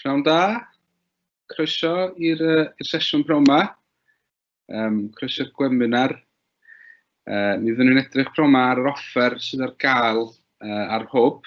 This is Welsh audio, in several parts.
Pnawn da, croeso i'r uh, sesiwn pnawn yma, um, croeso'r gweminar. Uh, mi fyddwn ni'n edrych pnawn yma ar yr offer sydd ar gael uh, ar hwb,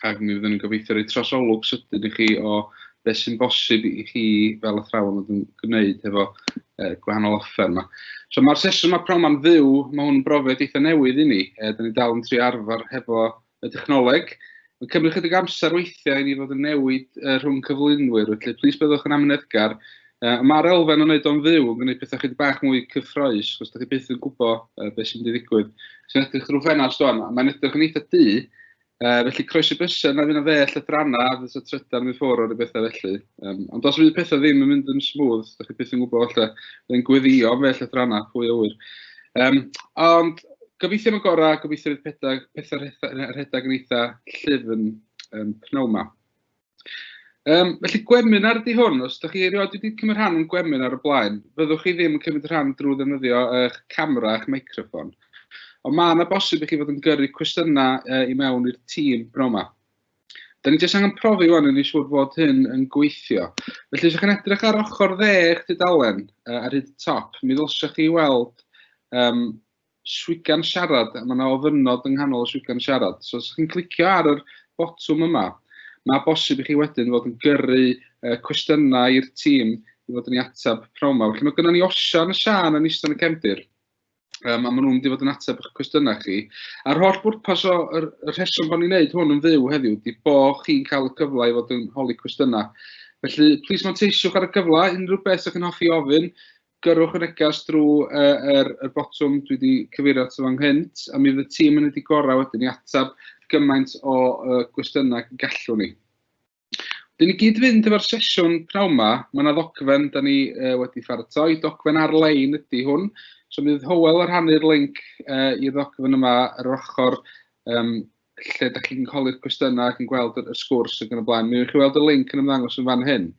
ac mi fyddwn ni'n gobeithio rhoi trosolwg sydyn i chi o beth sy'n bosib i chi fel athrawon yn gwneud hefo uh, gwahanol offer yma. So mae'r sesiwn mae pnawn yma'n fyw, mae hwn yn brofiad eitha newydd i ni. Uh, Dyna ni dal yn tri arfer hefo y dechnoleg. Mae'n cymryd chydig amser weithiau i ni fod yn newid uh, rhwng cyflwynwyr, felly plis byddwch yn amyneddgar. Uh, Mae'r elfen o wneud o'n fyw yn gwneud pethau chydig bach mwy cyffroes, os ydych chi byth yn gwybod uh, beth sy'n mynd i ddigwydd. Sy'n edrych drwy ffenast o'n, mae'n edrych yn eitha du, uh, felly croesi bysau, na fydd yna fell adrana, a fydd y trydan yn ffwrdd o'r bethau felly. Um, ond os fydd pethau ddim yn mynd yn smooth, ydych chi byth yn gwybod felly, bydd yn gweddio fell adrana, pwy o wyr. Um, ond gobeithio am y gorau, gobeithio bydd pethau, pethau rhedeg yn eitha llyfn um, pnawn yma. Um, felly gweminar ydy hwn, os ydych chi erioed wedi cymryd rhan yn gweminar o blaen, fyddwch chi ddim yn cymryd rhan drwy ddefnyddio eich camera a'ch microfon. Ond mae yna bosib i chi fod yn gyrru cwestiynau uh, i mewn i'r tîm bro yma. Da ni jyst angen profi wan, yn ni siŵr fod hyn yn gweithio. Felly, os ydych chi'n edrych ar ochr dde eich dudalen uh, ar hyd y top, mi ddylsech chi weld um, swigan siarad, a mae yna ofynod yng nghanol y swigan siarad. So, os ydych chi'n clicio ar yr botwm yma, mae bosib i chi wedyn fod yn gyrru uh, cwestiynau i'r tîm i fod yn ei atab pnawn yma. Felly, mae gennym ni Osian y Sian yn eistedd yn y cefndir. Um, a maen nhw'n mynd i fod yn ateb eich cwestiynau chi. A'r holl bwrpas o y rheswm bod ni'n neud hwn yn fyw heddiw, di bo chi'n cael y cyfle i fod yn holi cwestiynau. Felly, plis manteisiwch ar y cyfle, unrhyw beth ydych chi'n hoffi ofyn, gyrwch y neges drwy uh, er, er botwm dwi wedi cyfeirio at fan hynt, a mi fydd y tîm yn wedi gorau wedyn i ateb gymaint o uh, gwestiynau gallwn ni. Dyn ni gyd fynd efo'r sesiwn pnawn ma, mae yna ddogfen da ni uh, wedi pharatoi, dogfen ar-lein ydy hwn, so mi fydd Howell ar rhannu'r link uh, i'r ddogfen yma ar yr ochr um, lle da chi'n holi'r cwestiynau ac yn gweld y sgwrs ac yn y blaen. Mi yw'ch chi weld y link yn ymddangos yn fan hyn.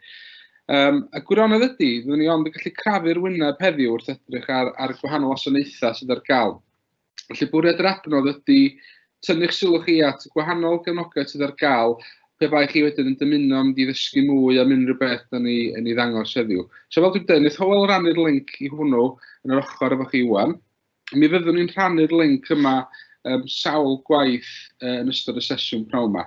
Um, a gwirionedd ydy, fyddwn ni ond yn gallu crafu'r wyneb heddiw wrth edrych ar, ar gwahanol wasanaethau sydd ar gael. Felly bwriad yr adnodd ydy tynnu'ch sylw chi at gwahanol gefnogaeth sydd ar gael pe bai chi wedyn yn dymuno mynd i ddysgu mwy am unrhyw beth da ni yn ei ddangos heddiw. So fel dwi'n dweud, wnaeth Howell rannu'r link i hwnnw yn yr ochr efo chi iwan. Mi fyddwn ni'n rhannu'r link yma um, sawl gwaith uh, yn ystod y sesiwn pnawn yma.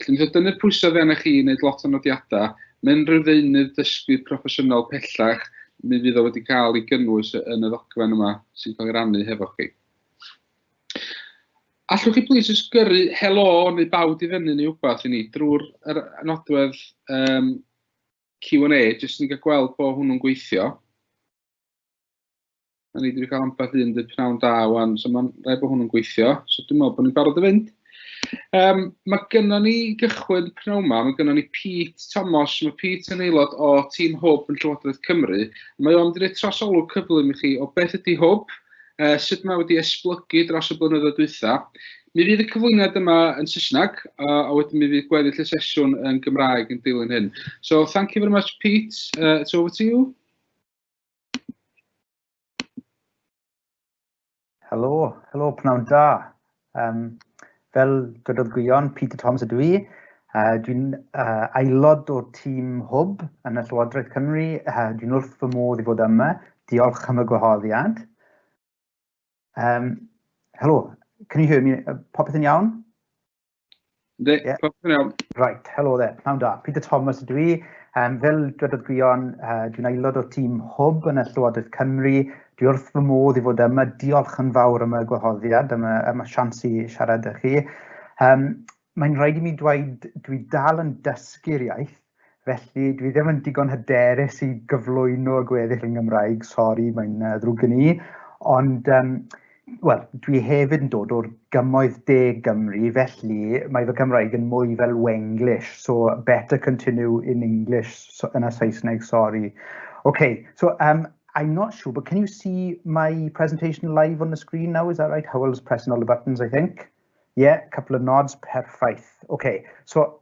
Felly, mae dynnu'r pwysau oddi arnoch chi i wneud lot o nodiadau, mae unrhyw ddeunydd dysgu proffesiynol pellach, mi fydd o wedi cael ei gynnwys yn y ddogfen yma sy'n cael ei rannu hefo chi. Allwch chi plis jyst gyrru helo neu bawd i fyny neu wbath i ni drwy'r nodwedd um, Q&A, jyst ni'n cael gweld bod hwnnw'n gweithio. Da ni wedi cael ambell un dy pnawn da wan, so mae'n rhaid bod hwn yn gweithio. So dwi'n meddwl bod ni'n barod i fynd. Um, mae gynna ni gychwyn pnawn yma, mae gynna ni Pete Thomas, mae Pete yn aelod o tîm Hwb yn Llywodraeth Cymru. Mae o'n mynd trosolwg cyflym i chi o beth ydy Hwb, uh, sut mae wedi esblygu dros y blynyddoedd dwytha. Mi fydd y cyflwyniad yma yn Saesneg, uh, a wedyn mi fydd gweddill y sesiwn yn Gymraeg yn dilyn hyn. So, thank you very much, Pete. Uh, it's over to you. Helo, helo, pnawn da. Um, fel dydodd Gwion, Peter Thomas ydw i. Uh, dwi'n uh, aelod o'r tîm hwb yn y Llywodraeth Cymru. Uh, dwi'n wrth fy modd i fod yma. Diolch am y gwahoddiad. Um, helo, can you hear me? Uh, popeth yn iawn? Ynddi, yeah. popeth yn iawn. Right, helo dde, pnawn da. Peter Thomas ydw i. Um, fel dwedodd Gwion, uh, dwi'n aelod o tîm Hwb yn y Llywodraeth Cymru. Dwi wrth fy modd i fod yma. Diolch yn fawr am y gwahoddiad, am y, am y sians i siarad â chi. Um, Mae'n rhaid i mi dweud, dwi dal yn dysgu'r iaith. Felly, dwi ddim yn digon hyderus i gyflwyno y gweddill yn Gymraeg, sori, mae'n uh, ddrwg gen i. Ond, um, wel, dwi hefyd yn dod o'r gymoedd de Gymru, felly mae fy Cymraeg yn mwy fel Wenglish, so better continue in English so, yn y Saesneg, sori. Okay, so um, I'm not sure, but can you see my presentation live on the screen now? Is that right? Howell's pressing all the buttons, I think. Yeah, a couple of nods, perffaith. Okay, so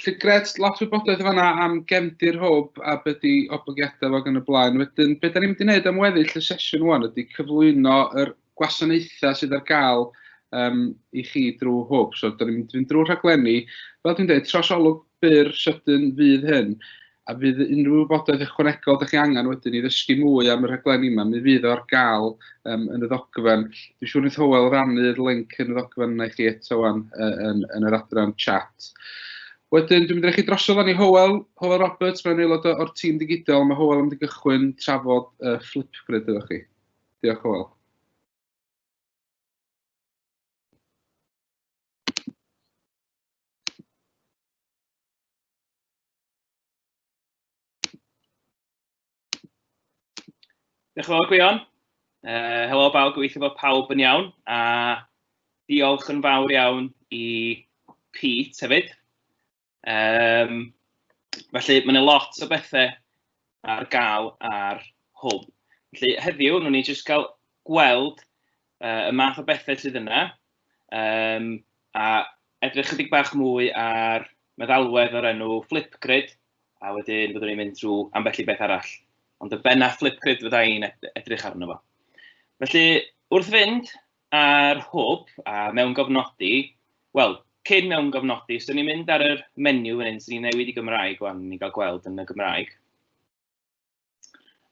Felly gret, lot o wybodaeth yn fanna am gefndir hwb a beth di oblygiadau fo gan y blaen. Wedyn, be da ni'n mynd i wneud am weddill y sesiwn wan ydy cyflwyno yr gwasanaethau sydd ar gael um, i chi drwy hwb. So, da ni'n mynd i fynd drwy rhaglenni. Fel dwi'n dweud, trosolwg byr sydyn fydd hyn. A fydd unrhyw wybodaeth ychwanegol dych chi angen wedyn i ddysgu mwy am y rhaglenni yma, mi fydd o ar gael um, yn y ddogfen. Dwi'n siŵr wnaeth Howell rannu'r link yn y ddogfen yna i chi eto wan yn, yn, yn yr adran chat. Wedyn, dwi'n mynd i chi drosodd fan i Howell, Howell Roberts, mae'n aelod o'r tîm digidol, mae Howell yn mynd i gychwyn trafod uh, Flipgrid ydych chi. Diolch Howell. Diolch yn fawr, Gwion. Uh, helo bawb, gobeithio bod pawb yn iawn, a diolch yn fawr iawn i Pete hefyd. Um, felly, mae'n lot o bethau ar gael ar hwn. Felly heddiw, nhw'n ni jyst cael gweld uh, y math o bethau sydd yna, um, a edrych chydig bach mwy ar meddalwedd o'r enw Flipgrid, a wedyn byddwn ni'n mynd trwy ambell i beth arall. Ond y benna Flipgrid fydda i'n edrych arno fo. Felly, wrth fynd, A'r hwb, a mewn gofnodi, wel, cyn mewn gofnodi, so ni'n mynd ar yr menu fan hyn, so ni'n newid i Gymraeg wan, ni'n cael gweld yn y Gymraeg.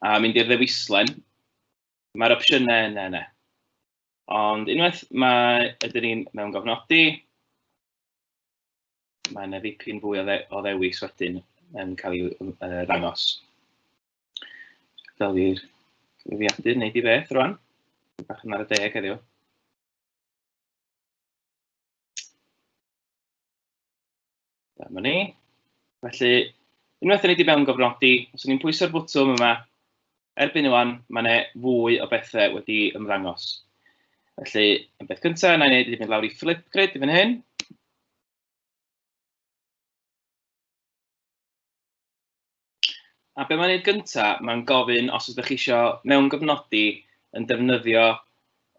A mynd i'r ddewislen, mae'r opsiynau yna yna. Ond unwaith mae, ydyn ni'n mewn gofnodi, mae yna ddipyn fwy o, dde, o ddewis wedyn yn cael ei uh, ddangos. Fel i'r cyfrifiadur wneud i beth rwan. Bach yn ar y deg heddiw. Dyma ni. Felly, unwaith yn ei di mewn gofnodi, os ni'n pwyso'r bwtwm yma, erbyn ywan, mae yna fwy o bethau wedi ymddangos. Felly, yn beth cyntaf, yna i wneud i mynd lawr i Flipgrid i fan hyn. A be mae'n neud gynta, mae'n gofyn os ydych chi eisiau mewn gofnodi yn defnyddio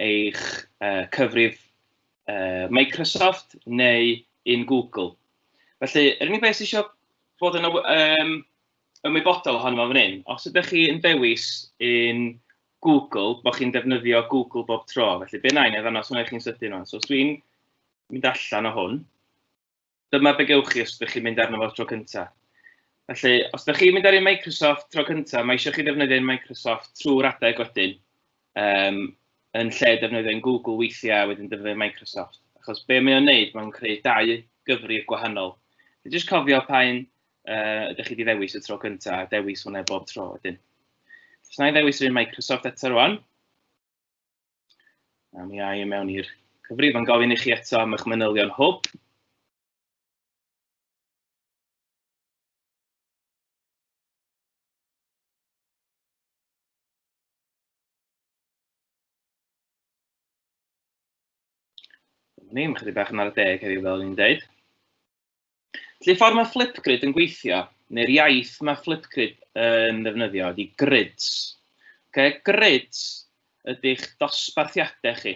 eich uh, cyfrif uh, Microsoft neu un Google. Felly, yr unig beth sy'n eisiau bod yn um, ymwybodol ohono fo fan hyn, os ydych chi yn dewis un Google, bod chi'n defnyddio Google bob tro. Felly, be nain, efo yna, swnio chi'n sydyn o'n. So, os dwi'n mynd allan o hwn, dyma be gewch chi os ydych chi'n mynd arno fo tro cyntaf. Felly, os ydych chi'n mynd ar ei Microsoft tro cyntaf, mae eisiau chi ddefnyddio ein Microsoft trwy'r adeg wedyn, um, yn lle defnyddio ein Google weithiau wedyn defnyddio Microsoft. Achos be mae o'n wneud, mae'n creu dau gyfrif gwahanol. Felly, jyst cofio pa un uh, ydych chi wedi ddewis y tro cyntaf, a dewis hwnna bob tro wedyn. Os na i ddewis yr un Microsoft eto rwan, A mi ai i mewn i'r cyfrif yn gofyn i chi eto am eich manylion hwb. Ni, mae chydig bach yn ar y deg heddiw fel o'n i'n dweud. Felly, ffordd mae Flipgrid yn gweithio, neu'r iaith mae Flipgrid yn ddefnyddio, ydy grids. Okay? Grids ydych dosbarthiadau chi.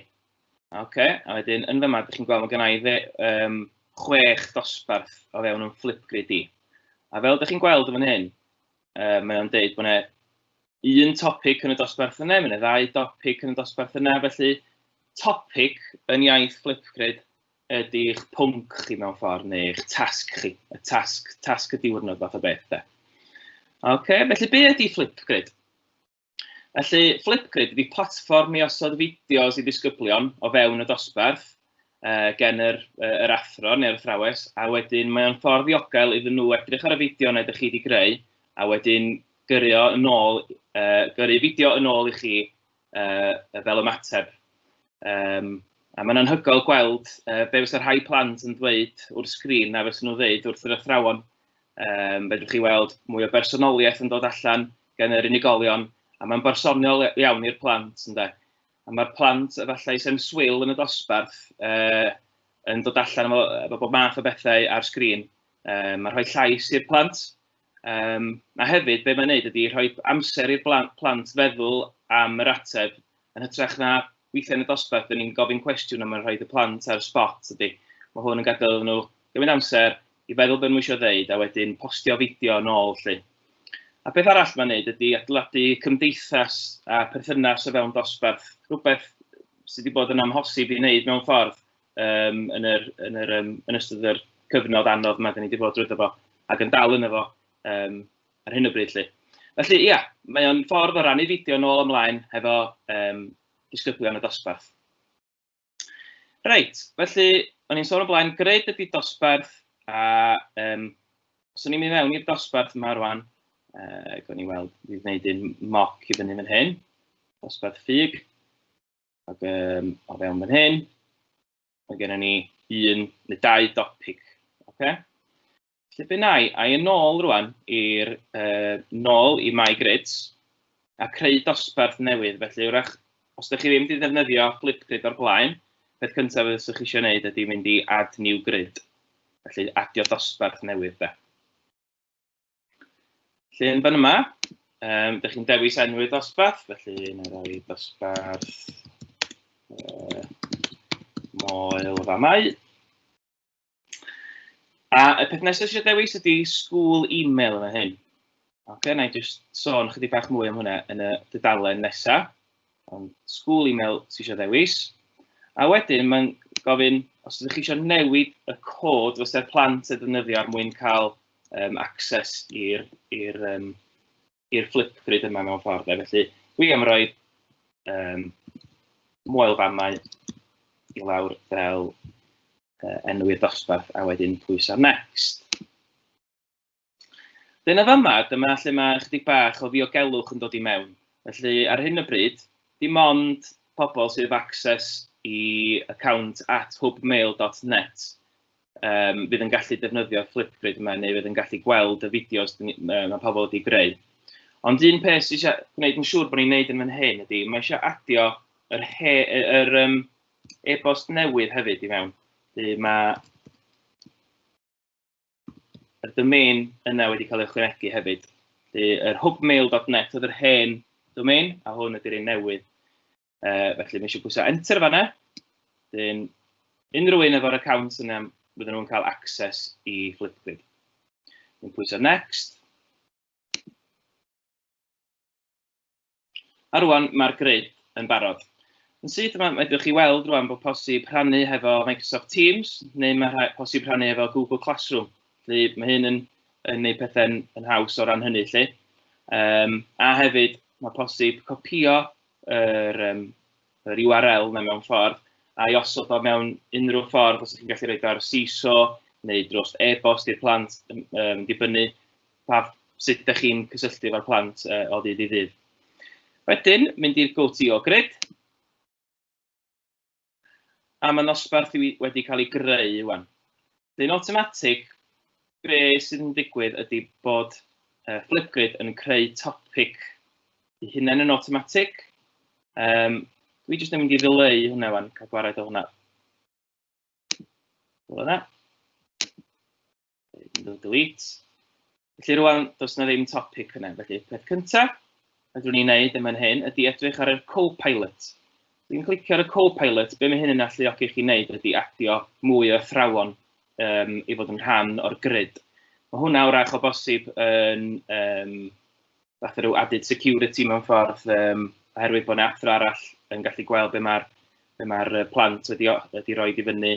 Okay? A wedyn, yn fyma, ydych chi'n gweld, mae gen i fe, um, chwech dosbarth o fewn yn Flipgrid i. A fel ydych chi'n gweld yn fan hyn, uh, mae o'n deud bod yna un topic yn y dosbarth yna, mae'n ddau topic yn y dosbarth yna, felly topic yn iaith Flipgrid ydy'ch pwnc chi mewn ffordd neu eich tasg chi, y tasg, tasg y diwrnod fath o beth de. OK, felly be ydy Flipgrid? Felly Flipgrid ydy platfform i osod fideos i ddisgyblion o fewn y dosbarth uh, gen yr, uh, yr athro neu'r athrawes a wedyn mae o'n ffordd ddiogel iddyn nhw edrych ar y fideo neu ydych chi wedi greu a wedyn gyrru yn ôl, uh, gyrru fideo yn ôl i chi uh, fel ymateb. Um, a mae'n anhygoel gweld uh, be fysa rhai plant yn dweud wrth sgrin a fysa nhw'n dweud wrth yr athrawon. Um, fedrwch chi weld mwy o bersonoliaeth yn dod allan gan yr unigolion, a mae'n bersonol iawn i'r plant, ynddo. A mae'r plant, efallai, sy'n swil yn y dosbarth, uh, yn dod allan efo, efo bob math o bethau ar sgrin. Um, mae'n rhoi llais i'r plant, Um, a hefyd, be mae'n neud ydy rhoi amser i'r plant feddwl am yr ateb, yn hytrach na weithiau yn y dosbarth, dyn ni'n gofyn cwestiwn a mae'n rhoi y plant ar y spot ydy. Mae hwn yn gadael nhw gymryd amser i feddwl beth nhw eisiau ddeud a wedyn postio fideo yn ôl lle. A beth arall mae'n neud ydy adeiladu cymdeithas a perthynas o fewn dosbarth, rhywbeth sydd wedi bod yn amhosib i wneud mewn ffordd um, yn, yr, yn, yr, um, yn ystod yr cyfnod anodd yma, da ni wedi bod drwy fo, ac yn dal yn efo um, ar hyn o bryd. Lly. Felly, ia, mae o'n ffordd o rannu fideo nôl ymlaen hefo um, disgyblion y dosbarth. Reit, felly, o'n i'n sôn o blaen, gred ydy dosbarth, a um, os o'n i'n mynd mewn i'r dosbarth yma rwan, uh, gawn ni weld, fi wneud un moc i fyny fan hyn, dosbarth ffug. Ac um, o fewn fan hyn, mae gennym ni un neu dau dopic. Okay? Felly be nai, a i yn ôl rwan i'r uh, nôl i My Grids a creu dosbarth newydd. Felly wrach, os ydych chi ddim wedi defnyddio Flipgrid o'r blaen, peth cyntaf ydych chi eisiau gwneud ydy mynd i Add New Grid. Felly adio dosbarth newydd da. Felly, yn fan yma, um, dych chi'n dewis enw i'r dosbarth, felly yn rhoi dosbarth uh, moel o famau. A y peth nesaf eisiau dewis ydy school email yma hyn. Oce, okay, na i just sôn chydig bach mwy am hwnna yn y dydalen nesaf. Ond school email sy'n eisiau dewis. A wedyn mae'n gofyn, os ydych chi eisiau newid y cod fysa'r plant yn ddefnyddio ar er mwyn cael um, access i'r i'r um, i'r Flipgrid yma mewn ffordd. Felly, dwi am roi um, moel famau i lawr fel uh, enw i'r dosbarth a wedyn pwyso next. Dyna fama, dyma lle mae ychydig bach o ddiogelwch yn dod i mewn. Felly, ar hyn o bryd, dim ond pobl sydd ef access i account at hubmail.net yym fydd yn gallu defnyddio Flipgrid yma neu fydd yn gallu gweld y fideos mae pobl wedi greu. Ond un peth sy'n eisiau gwneud yn siŵr bod ni'n gwneud yn fan hyn ydy, mae eisiau adio yr, he, yr um, e-bost newydd hefyd i mewn. Dwi mae y domain yna wedi cael ei chwynegu hefyd. Dwi, yr hubmail.net oedd yr hen domain, a hwn ydy'r un newydd. Uh, felly, mae eisiau pwysau enter fanna. Dyn, unrhyw un efo'r account yna, fydden nhw'n cael access i Flipgrid. Yn pwysau next. A rwan mae'r grid yn barod. Yn syth yma, mae ydych chi weld rwan bod posib rhannu hefo Microsoft Teams, neu mae posib rhannu hefo Google Classroom. Felly mae hyn yn, yn gwneud pethau'n yn haws o ran hynny. Felly. Um, a hefyd, mae posib copio yr, um, yr URL na mewn ffordd, a i osod o mewn unrhyw ffordd, os ydych chi'n gallu rhoi ar CISO neu dros e-bost i'r plant, um, dibynnu pa, sut ydych chi'n cysylltu efo'r plant uh, o ddydd i ddydd. Wedyn, mynd i'r GoTO grid. a mae nosbarth wedi cael ei greu wan. Dyn automatic, be sydd yn digwydd ydy bod uh, Flipgrid yn creu topic i hunain yn automatic. Um, dwi jyst yn mynd i ddileu hwnna wan, cael gwared o hwnna. Fel yna. Iddo delete. Felly rwan, does yna ddim topic yna. Felly, peth cyntaf, rydw ni'n neud yn fan hyn, ydy edrych ar y co-pilot. Dwi'n clicio ar y co-pilot, be mae hyn yn alluogi chi wneud ydy adio mwy o athrawon um, i fod yn rhan o'r grid. Mae hwnna wrach o bosib yn um, fath rhyw added security mewn ffordd, um, oherwydd bod yna athro arall yn gallu gweld be mae'r be ma plant wedi, wedi rhoi i fyny,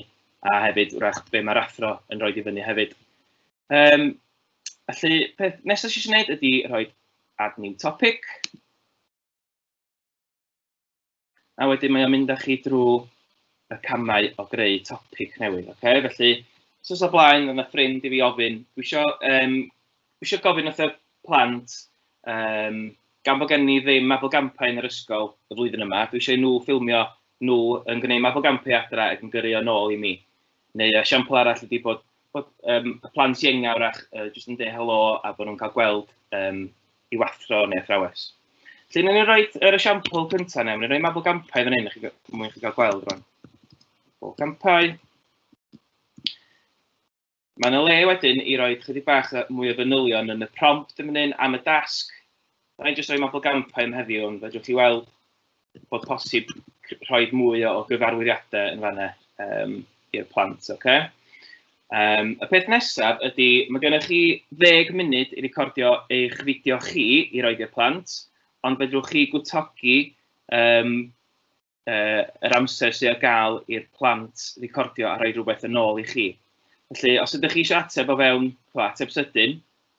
a hefyd wrach be mae'r athro yn rhoi i fyny hefyd. Um, felly, peth nesaf sy'n gwneud ydy rhoi add new topic. A wedyn mae o'n mynd â chi drwy y camau o greu topic newydd. Okay? Felly, sos o blaen, yna ffrind i fi ofyn, dwi eisiau, um, dwi eisiau gofyn wrth y plant, um, gan bod gen i ddim mabolgampau yn yr ysgol y flwyddyn yma, dwi eisiau nhw ffilmio nhw yn gwneud mabolgampau adra ac yn gyrru o'n ôl i mi. Neu y siampl arall ydy bod, bod um, y plant ienga wrach uh, jyst yn dweud helo a bod nhw'n cael gweld um, i'w athro neu athrawes. Felly, ni'n ei roi yr esiampl cyntaf neu, ni'n rhoi mabl gampau fan hyn, i chi mwyn chi gael gweld rwan. Mabl gampau. Mae yna le wedyn i roi chydig bach mwy o fanylion yn y prompt yn fan hyn am y dasg. Da ni'n jyst rhoi mabl gampau am heddiw, ond fe drwch chi weld bod posib rhoi mwy o gyfarwyddiadau yn fanna um, i'r plant, oce? Okay? Um, y peth nesaf ydy, mae gennych chi ddeg munud i recordio eich fideo chi i roed i'r plant, ond fedrwch chi gwtogi um, uh, yr amser sydd ar gael i'r plant recordio a rhoi rhywbeth yn ôl i chi. Felly, os ydych chi eisiau ateb o fewn, chwa, ateb sydyn,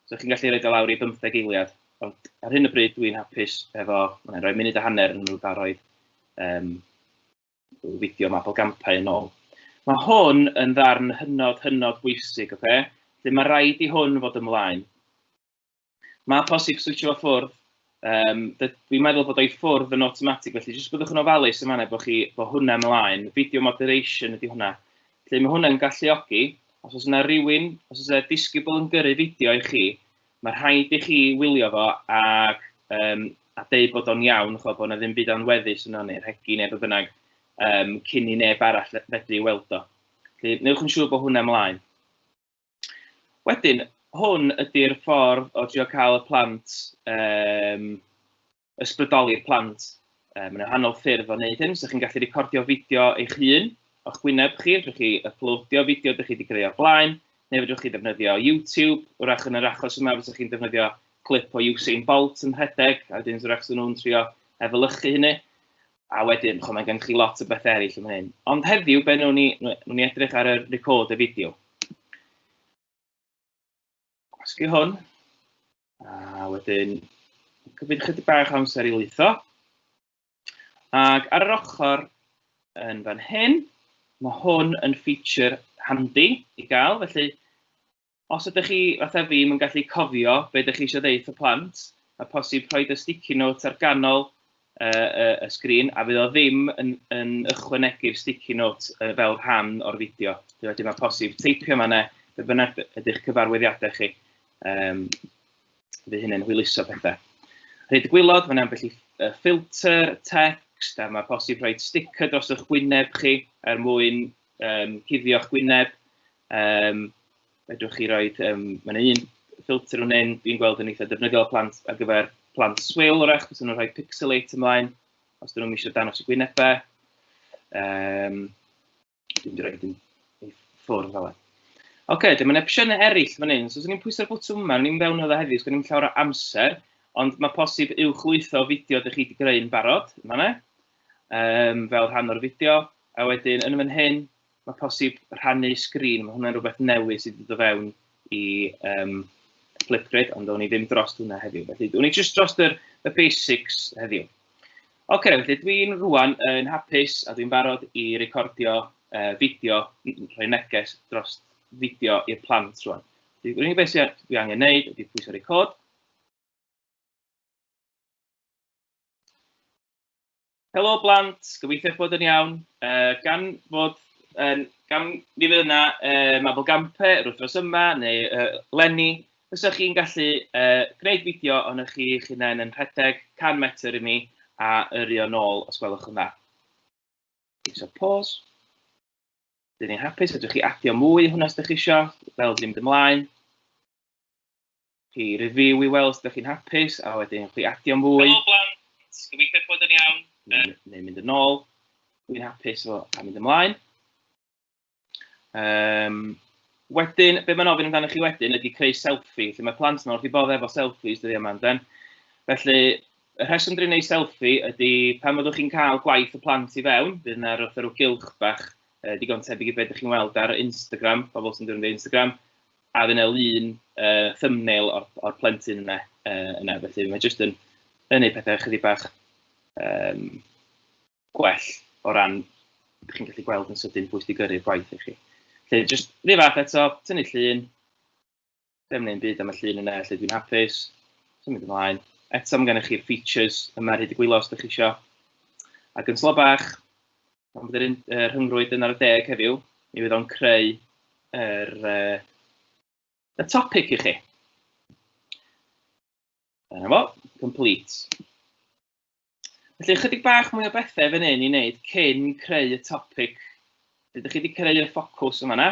So chi'n gallu rhoi o lawr i bymtheg eiliad, ond ar hyn o bryd dwi'n hapus efo, mae'n rhoi munud a hanner yn rhyw daroedd um, fideo mabel gampau yn ôl. Mae hwn yn ddarn hynod, hynod bwysig, oce? Okay? Felly mae rhaid i hwn fod ymlaen. Mae posib switio fo ffwrdd Um, fi'n meddwl bod o'i ffwrdd yn automatic, felly jyst byddwch yn ofalus yn fanna bod, chi, bod hwnna ymlaen. Video moderation ydy hwnna. Felly mae hwnna'n galluogi, os oes yna rhywun, os oes yna disgybl yn gyrru fideo i chi, mae rhaid i chi wylio fo ac, um, a deud bod o'n iawn, chwa, bod yna ddim byd anweddus yno neu rhegi neu beth bynnag, um, cyn i neb arall fedru weld o. Felly, newch yn siŵr bod hwnna ymlaen. Wedyn, hwn ydy'r ffordd o drio cael y plant, um, ysbrydoli'r plant. Um, mae'n rhannol ffyrdd o wneud hyn, so chi'n gallu recordio fideo eich hun o'ch gwyneb chi, rydych chi uploadio fideo ydych chi wedi creu o'r blaen, neu fydwch chi ddefnyddio YouTube, wrach yn yr achos yma fydwch chi'n defnyddio clip o Usain Bolt yn rhedeg, a wedyn wrach sy'n nhw'n trio efelychu hynny. a wedyn, chwa, mae gennych chi lot o bethau eraill yn hyn. Ond heddiw, be nhw'n ni, nhw ni edrych ar y record y fideo. Gwasgu hwn. A wedyn, cymryd chydig bach amser i lwytho. Ac ar yr ochr yn fan hyn, mae hwn yn feature handi i gael, felly Os ydych chi, fatha fi, ddim yn gallu cofio be ydych chi eisiau ddeud wrth y plant, mae posib rhoi y sticky notes ar ganol uh, uh, y sgrin, a fydd o ddim yn, yn ychwanegu'r sticky notes uh, fel rhan o'r fideo. Felly mae posib teipio yma ne, be bynnag ydych cyfarwyddiadau chi. Um, fydd hynny'n hwyluso pethau. Rhaid y gwylod, mae'n ambell i ffilter, text, a mae posib rhoi sticker dros eich gwyneb chi er mwyn um, cuddio'ch gwyneb. Um, fedrwch chi roi, um, mae yna un ffilter yn hyn, dwi'n gweld yn eitha defnyddiol plant ar gyfer plant swil o'r eich, os nhw'n rhoi pixelate ymlaen, os dyn nhw'n eisiau danos y gwynebau. Um, dwi'n dweud rhoi hyn ffwrdd fel e. Oce, okay, dyma'n opsiynau eraill fan hyn. So, os ni'n pwysau'r bwtwm yma, ni'n fewn o dda heddiw, os ni'n llawer o amser, ond mae posib uwch lwytho fideo ydych chi wedi greu'n barod, yma ne, um, fel rhan o'r fideo, a wedyn yn fan hyn, Mae posib rhannu sgrin, mae hwnna'n rhywbeth newydd sydd wedi dod fewn i um, Flipgrid, ond o'n i ddim dros hwnna heddiw. Felly, o'n i jyst dros yr, y basics heddiw. Oce, okay, felly dwi'n rwan yn hapus a dwi'n barod i recordio uh, fideo, rhoi neges dros fideo i'r plant rwan. Dwi'n unig beth sydd dwi angen neud ydy pwysau record. Helo blant, gobeithio eich bod yn iawn. Uh, gan fod yn, gan ni fydd yna uh, Mabel Gampe yr wythnos yma, neu uh, Lenny, fysa chi'n gallu uh, gwneud fideo ond ych chi eich hunain yn rhedeg 100 metr i mi a yrru o'n ôl os gwelwch yn dda. So pause. Dyn ni'n hapus, ydych chi adio mwy hwnna os ydych chi eisiau, fel dwi'n mynd ymlaen. Chi review i weld os ydych chi'n hapus a wedyn chi adio'n fwy. Helo blant, gobeithio bod yn iawn. Neu, neu mynd yn ôl, dwi'n hapus fo a mynd ymlaen. Um, wedyn, be mae'n ofyn amdano chi wedyn ydy creu selfie, lle mae plant yma wrth i bodd efo selfies dyddi yma amdan. Felly, y rheswm dwi'n ei selfie ydy pan fyddwch chi'n cael gwaith y plant i fewn, bydd yna rhywbeth rhyw gylch bach e, digon tebyg i beth ydych chi'n weld ar Instagram, pobl sy'n dod yn Instagram, a fydd yna lun uh, thumbnail o'r, or plentyn yna, uh, yna felly mae jyst yn, yn gwneud pethau chydig bach um, gwell o ran ydych chi'n gallu gweld yn sydyn pwy sydd gyrru'r gwaith i chi. Lle, jyst rhyw fath eto, tynnu llun, ddim neu'n byd am y llun yna, lle dwi'n hapus, sy'n mynd ymlaen. Eto, mae gennych chi'r features yma ar hyd y gwyllo os ydych chi eisiau. Ac yn slo bach, Ond bydd yr rhyngrwyd yn ar y deg heddiw, mi fydd o'n creu yr, uh, y topic i chi. Dyna fo, complete. Felly, ychydig bach mwy o bethau fan hyn i wneud cyn creu y topic. Dydych chi wedi creu y ffocws yma na.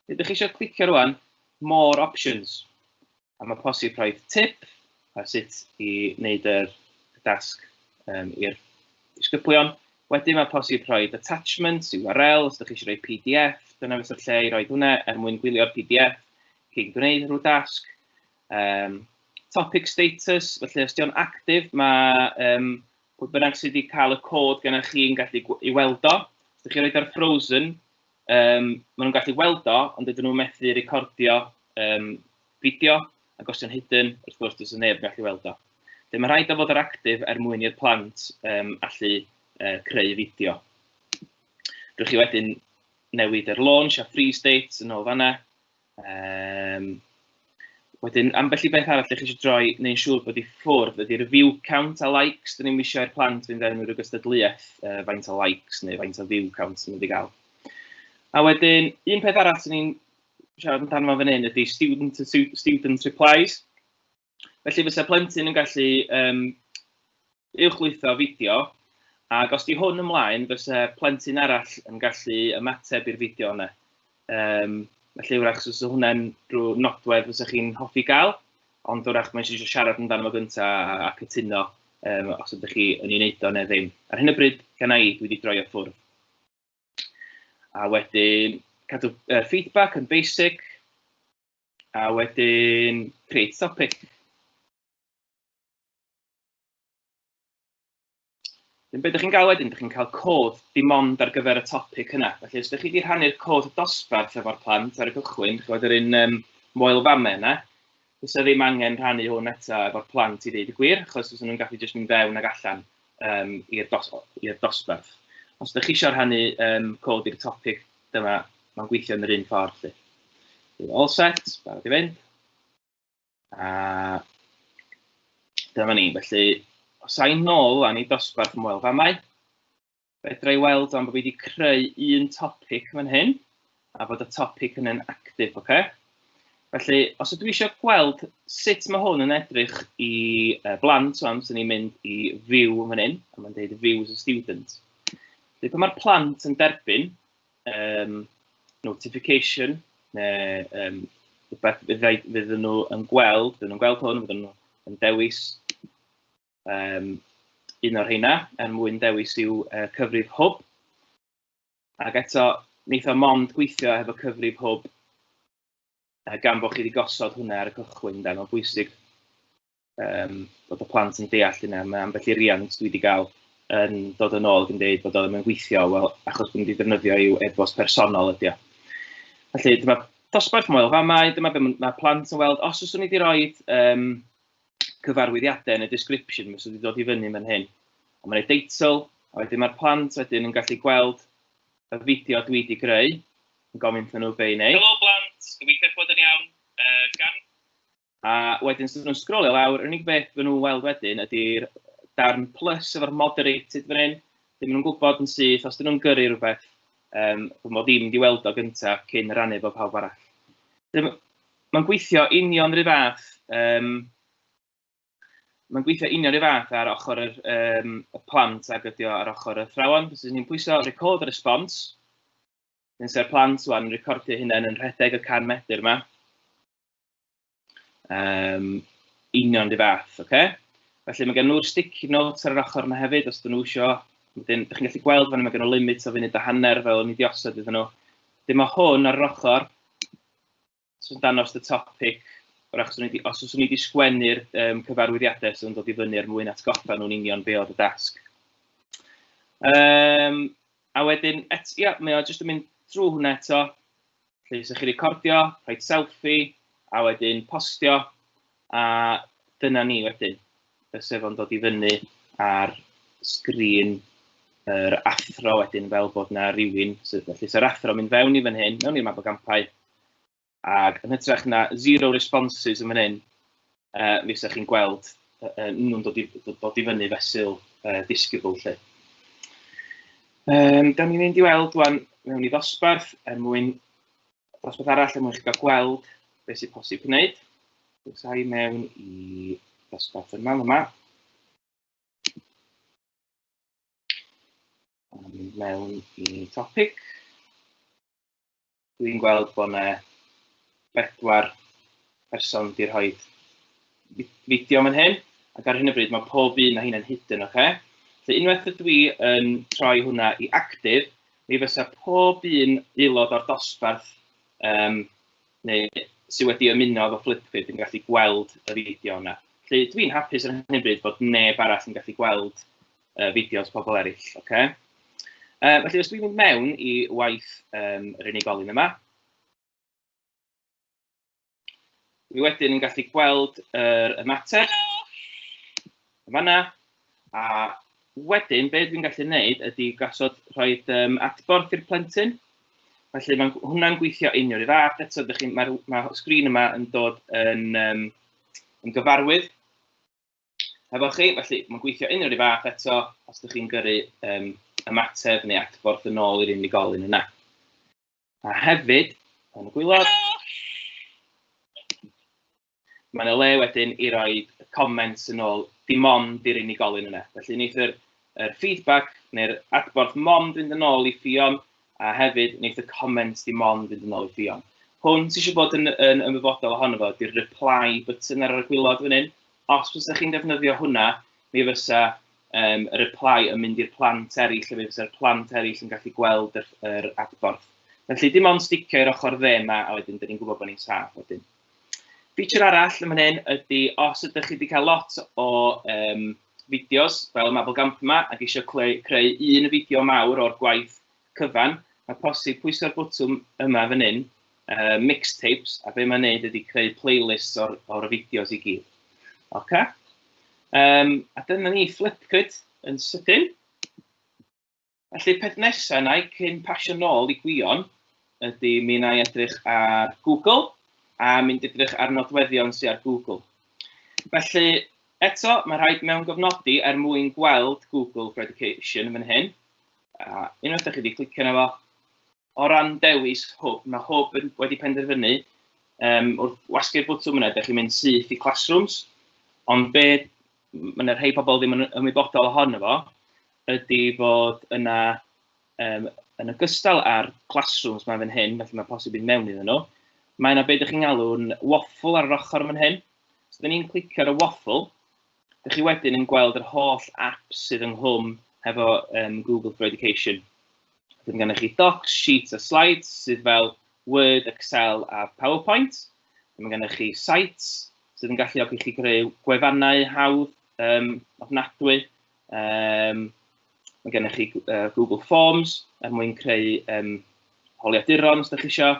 Dydych chi eisiau clicio rwan, more options. A mae posib rhoi tip ar sut i wneud yr dasg um, i'r disgyblion. Wedyn mae posib rhoi attachments, URL, os ydych chi eisiau rhoi PDF, dyna fysa'r lle i roi hwnna er mwyn gwylio'r PDF cyn gwneud rhyw dasg. Um, topic status, felly os di'n actif, mae um, pwy bynnag sydd wedi cael y cod gennych chi'n gallu i weld o. Os ydych chi'n rhoi ar frozen, Yym, maen nhw'n gallu weld o, ond dydyn nhw methu recordio um, fideo, ac os yw'n hidden, wrth gwrs, dydyn neb yn gallu weld o. Felly mae rhaid o fod yr actif er mwyn i'r plant um, allu uh, creu fideo. Rwy'ch chi wedyn newid yr launch a free state yn ôl fanna, Um, wedyn, ambell i beth arall ydych chi eisiau droi neu'n siŵr bod i ffwrdd ydy'r view count a likes. Dyn ni'n wisio i'r plant fynd fewn rhyw gystadleuaeth uh, faint o likes neu faint o view count sy'n mynd i gael. A wedyn, un peth arall sy'n ni'n siarad amdano fan hyn ydy student, student replies. Felly fysa plentyn yn gallu um, uwchlwytho fideo, ac os di hwn ymlaen, fysa plentyn arall yn gallu ymateb i'r fideo yna. Um, felly wrach, os so hwnna'n rhyw nodwedd fysa chi'n hoffi gael, ond wrach mae'n eisiau siarad amdano fo gyntaf a, a cytuno um, os ydych chi yn ei wneud o neu ddim. Ar hyn o bryd, gan i, dwi wedi droi o ffwrdd. A wedyn, cadw uh, feedback yn basic, A wedyn, create topic. Yn beth ydych chi'n cael wedyn, ydych chi'n cael cod dim ond ar gyfer y topic yna. Felly, os ydych chi wedi rhannu'r cod dosbarth efo'r plant ar y cychwyn, chi'n gwybod yr un um, moel fame yna, fysa ddim angen rhannu hwn eto efo'r plant i ddeud y gwir, achos fysa nhw'n gallu jyst mynd fewn ac allan. um, i'r dos, dosbarth. Os ydych chi eisiau rhannu um, cod i'r topic, dyma, mae'n gweithio yn yr un ffordd. Lly. Bydd all set, barod i fynd. A dyma ni. Felly, os sa'n nôl am i dosbarth ymweld famau, fedra i weld am bod fi wedi creu un topic fan hyn. a bod y topic yn yn actif, oce? Okay? Felly, os ydw i eisiau gweld sut mae hwn yn edrych i uh, blant, so amser ni'n mynd i view yn fan hyn, a mae'n dweud view as a student. Felly, pan mae'r plant yn derbyn um, notification, neu um, rhywbeth fydd nhw yn gweld, fydd nhw'n gweld hwn, fydd nhw yn dewis um, un o'r heina, er mwyn dewis i'w uh, cyfrif hwb. Ac eto, wneith o mond gweithio hefo cyfrif hwb uh, gan bod chi wedi gosod hwnna ar y cychwyn. Da. Mae'n bwysig um, bod y plant yn deall hynna. Mae ambell i riant dwi wedi cael yn dod yn ôl ac yn dweud bod o ddim yn gweithio, wel, achos bod nhw wedi defnyddio i'w e-bost personol ydy o. Felly, dyma dosbarth moel famau, dyma beth mae plant yn weld. Os oes ni wedi rhoi um, cyfarwyddiadau yn y description, mae sydd wedi dod i fyny mewn hyn. A mae'n ei deitl, a wedyn mae'r plant wedyn yn gallu gweld y fideo dwi wedi greu, yn gofyn wrthyn nhw be i wneud. Helo blant, gobeithio bod yn iawn. Uh, gan... A wedyn, sydd nhw'n sgrolio lawr, yr unig beth fy nhw'n weld wedyn ydy'r darn plus efo'r moderated fan hyn. Ddim nhw'n gwybod yn syth, os dyn nhw'n gyrru rhywbeth, um, fy mod ddim wedi weld o gyntaf cyn rannu fo pawb arall. Ddim, Mae'n gweithio union rhyw fath, um, mae'n gweithio union rhyw fath ar ochr yr, um, y plant ag ydi o ar ochr y thrawon. Fes ni'n pwyso record a response, yn se'r plant wan yn recordio hynna yn rhedeg y can metr yma. Um, union rhyw fath, oce? Okay? Felly mae gen nhw'r sticky notes ar yr ochr yna hefyd, os dyn nhw isio. Wedyn, ydych chi'n gallu gweld fan yma gen nhw limit o funud a hanner fel o'n i wedi osod iddyn nhw. Dyma hwn ar yr ochr, sy'n danos y topic, o'r achos wedi, os oes wedi sgwennu'r um, cyfarwyddiadau sy'n dod i fyny er mwyn atgoffa nhw'n union be oedd y dasg. Um, a wedyn, et, ia, mae o jyst yn mynd drwy hwnna eto, lle ysych chi recordio, rhoi selfie, a wedyn postio, A dyna ni wedyn, y sefon dod i fyny ar sgrin yr athro wedyn fel bod yna rhywun, felly so'r athro mynd fewn i fan hyn, mewn i'r map o gampau, ac yn hytrach na zero responses yn fan hyn, uh, mi ysa'ch chi'n gweld uh, uh, nhw'n dod i, dod i fyny fesul uh, disgybl lle. Um, da ni'n mynd i weld wan mewn i ddosbarth er mwyn Dosbarth arall er mwyn chi gael gweld beth sy'n posib gwneud. Bwysau mewn i dosbarth yma, yma. mynd mewn i topic. Dwi'n gweld bod yna bedwar person wedi rhoi fideo yn hyn, ac ar hyn o bryd mae pob un o hyn yn hidden, oce? Okay? So unwaith ydw i yn troi hwnna i active, Mi fysa pob un aelod o'r dosbarth um, neu sydd wedi ymuno efo Flipkid yn gallu gweld y fideo yna. Felly dwi'n hapus ar hyn bryd bod neb arall yn gallu gweld uh, fideos pobl eraill. Okay? Uh, felly os dwi'n mynd mewn i waith um, yr unigolyn yma, Dwi wedyn yn gallu gweld yr ymateb. Yn fanna. A wedyn, be dwi'n gallu gwneud ydy gasod rhoi um, adborth i'r plentyn. Felly mae hwnna'n gweithio union i fath. Eto, mae'r ma sgrin yma yn dod yn, um, yn gyfarwydd efo chi. Felly mae'n gweithio union i fath eto os ydych chi'n gyrru um, ymateb neu adborth yn ôl i'r unigolyn yna. A hefyd, yn y gwylod, mae yna le wedyn i roi comments yn ôl dim ond i'r unigolyn yna. Felly wneith yr, yr feedback neu'r adborth mond fynd yn ôl i Ffion a hefyd wneith y comments dim ond fynd yn ôl i Ffion. Hwn sy'n siŵr bod yn, yn ymwybodol ohono fo, di'r reply button ar y gwylod fan hyn. Os fysa chi'n defnyddio hwnna, mi fysa um, y reply yn mynd i'r plant eraill, fe fysa'r plant eraill yn gallu gweld yr, yr adborth. Felly dim ond sticio i'r ochr dde yma, a wedyn dyn ni'n gwybod bod ni'n saff wedyn. Feature arall yn fan hyn ydy, os ydych chi wedi cael lot o um, fideos, fel y Mabel Gamp yma, ac eisiau creu, creu un fideo mawr o'r gwaith cyfan, mae posib pwyso'r bwtwm yma fan hyn, uh, mixtapes, a be mae'n neud ydy creu playlists o'r, or fideos i gyd. Oce? Um, a dyna ni Flipgrid yn sydyn. Felly peth nesaf na i cyn pasio nôl i Gwion ydy mi na i edrych ar Google a mynd edrych ar nodweddion sy'n ar Google. Felly eto mae rhaid mewn gofnodi er mwyn gweld Google for Education yn fan hyn. A unwaith da chi wedi clicio yna fo, o ran dewis hwb, mae hwb yn wedi penderfynu um, wrth wasgu'r bwtwm yna, ydych chi'n mynd syth i classrooms, ond be mae yna rhai pobl ddim yn ymwybodol ohono fo, ydy fod yna, um, yn ogystal â'r classrooms mae fan hyn, felly mae posib yn mewn iddyn nhw, mae yna beth ydych chi'n galw'n waffle ar yr ochr fan hyn. So, da ni'n clicio ar y waffle, Dych chi wedyn yn gweld yr holl apps sydd ynghlwm hefo um, Google for Education. Dwi'n gennych chi Docs, Sheets a Slides sydd fel Word, Excel a PowerPoint. Mae gennych chi Sites sydd yn galluogi chi greu gwefannau hawdd um, ofnadwy. Um, mae gennych chi uh, Google Forms er mwyn creu um, holiaduron os ydych chi eisiau.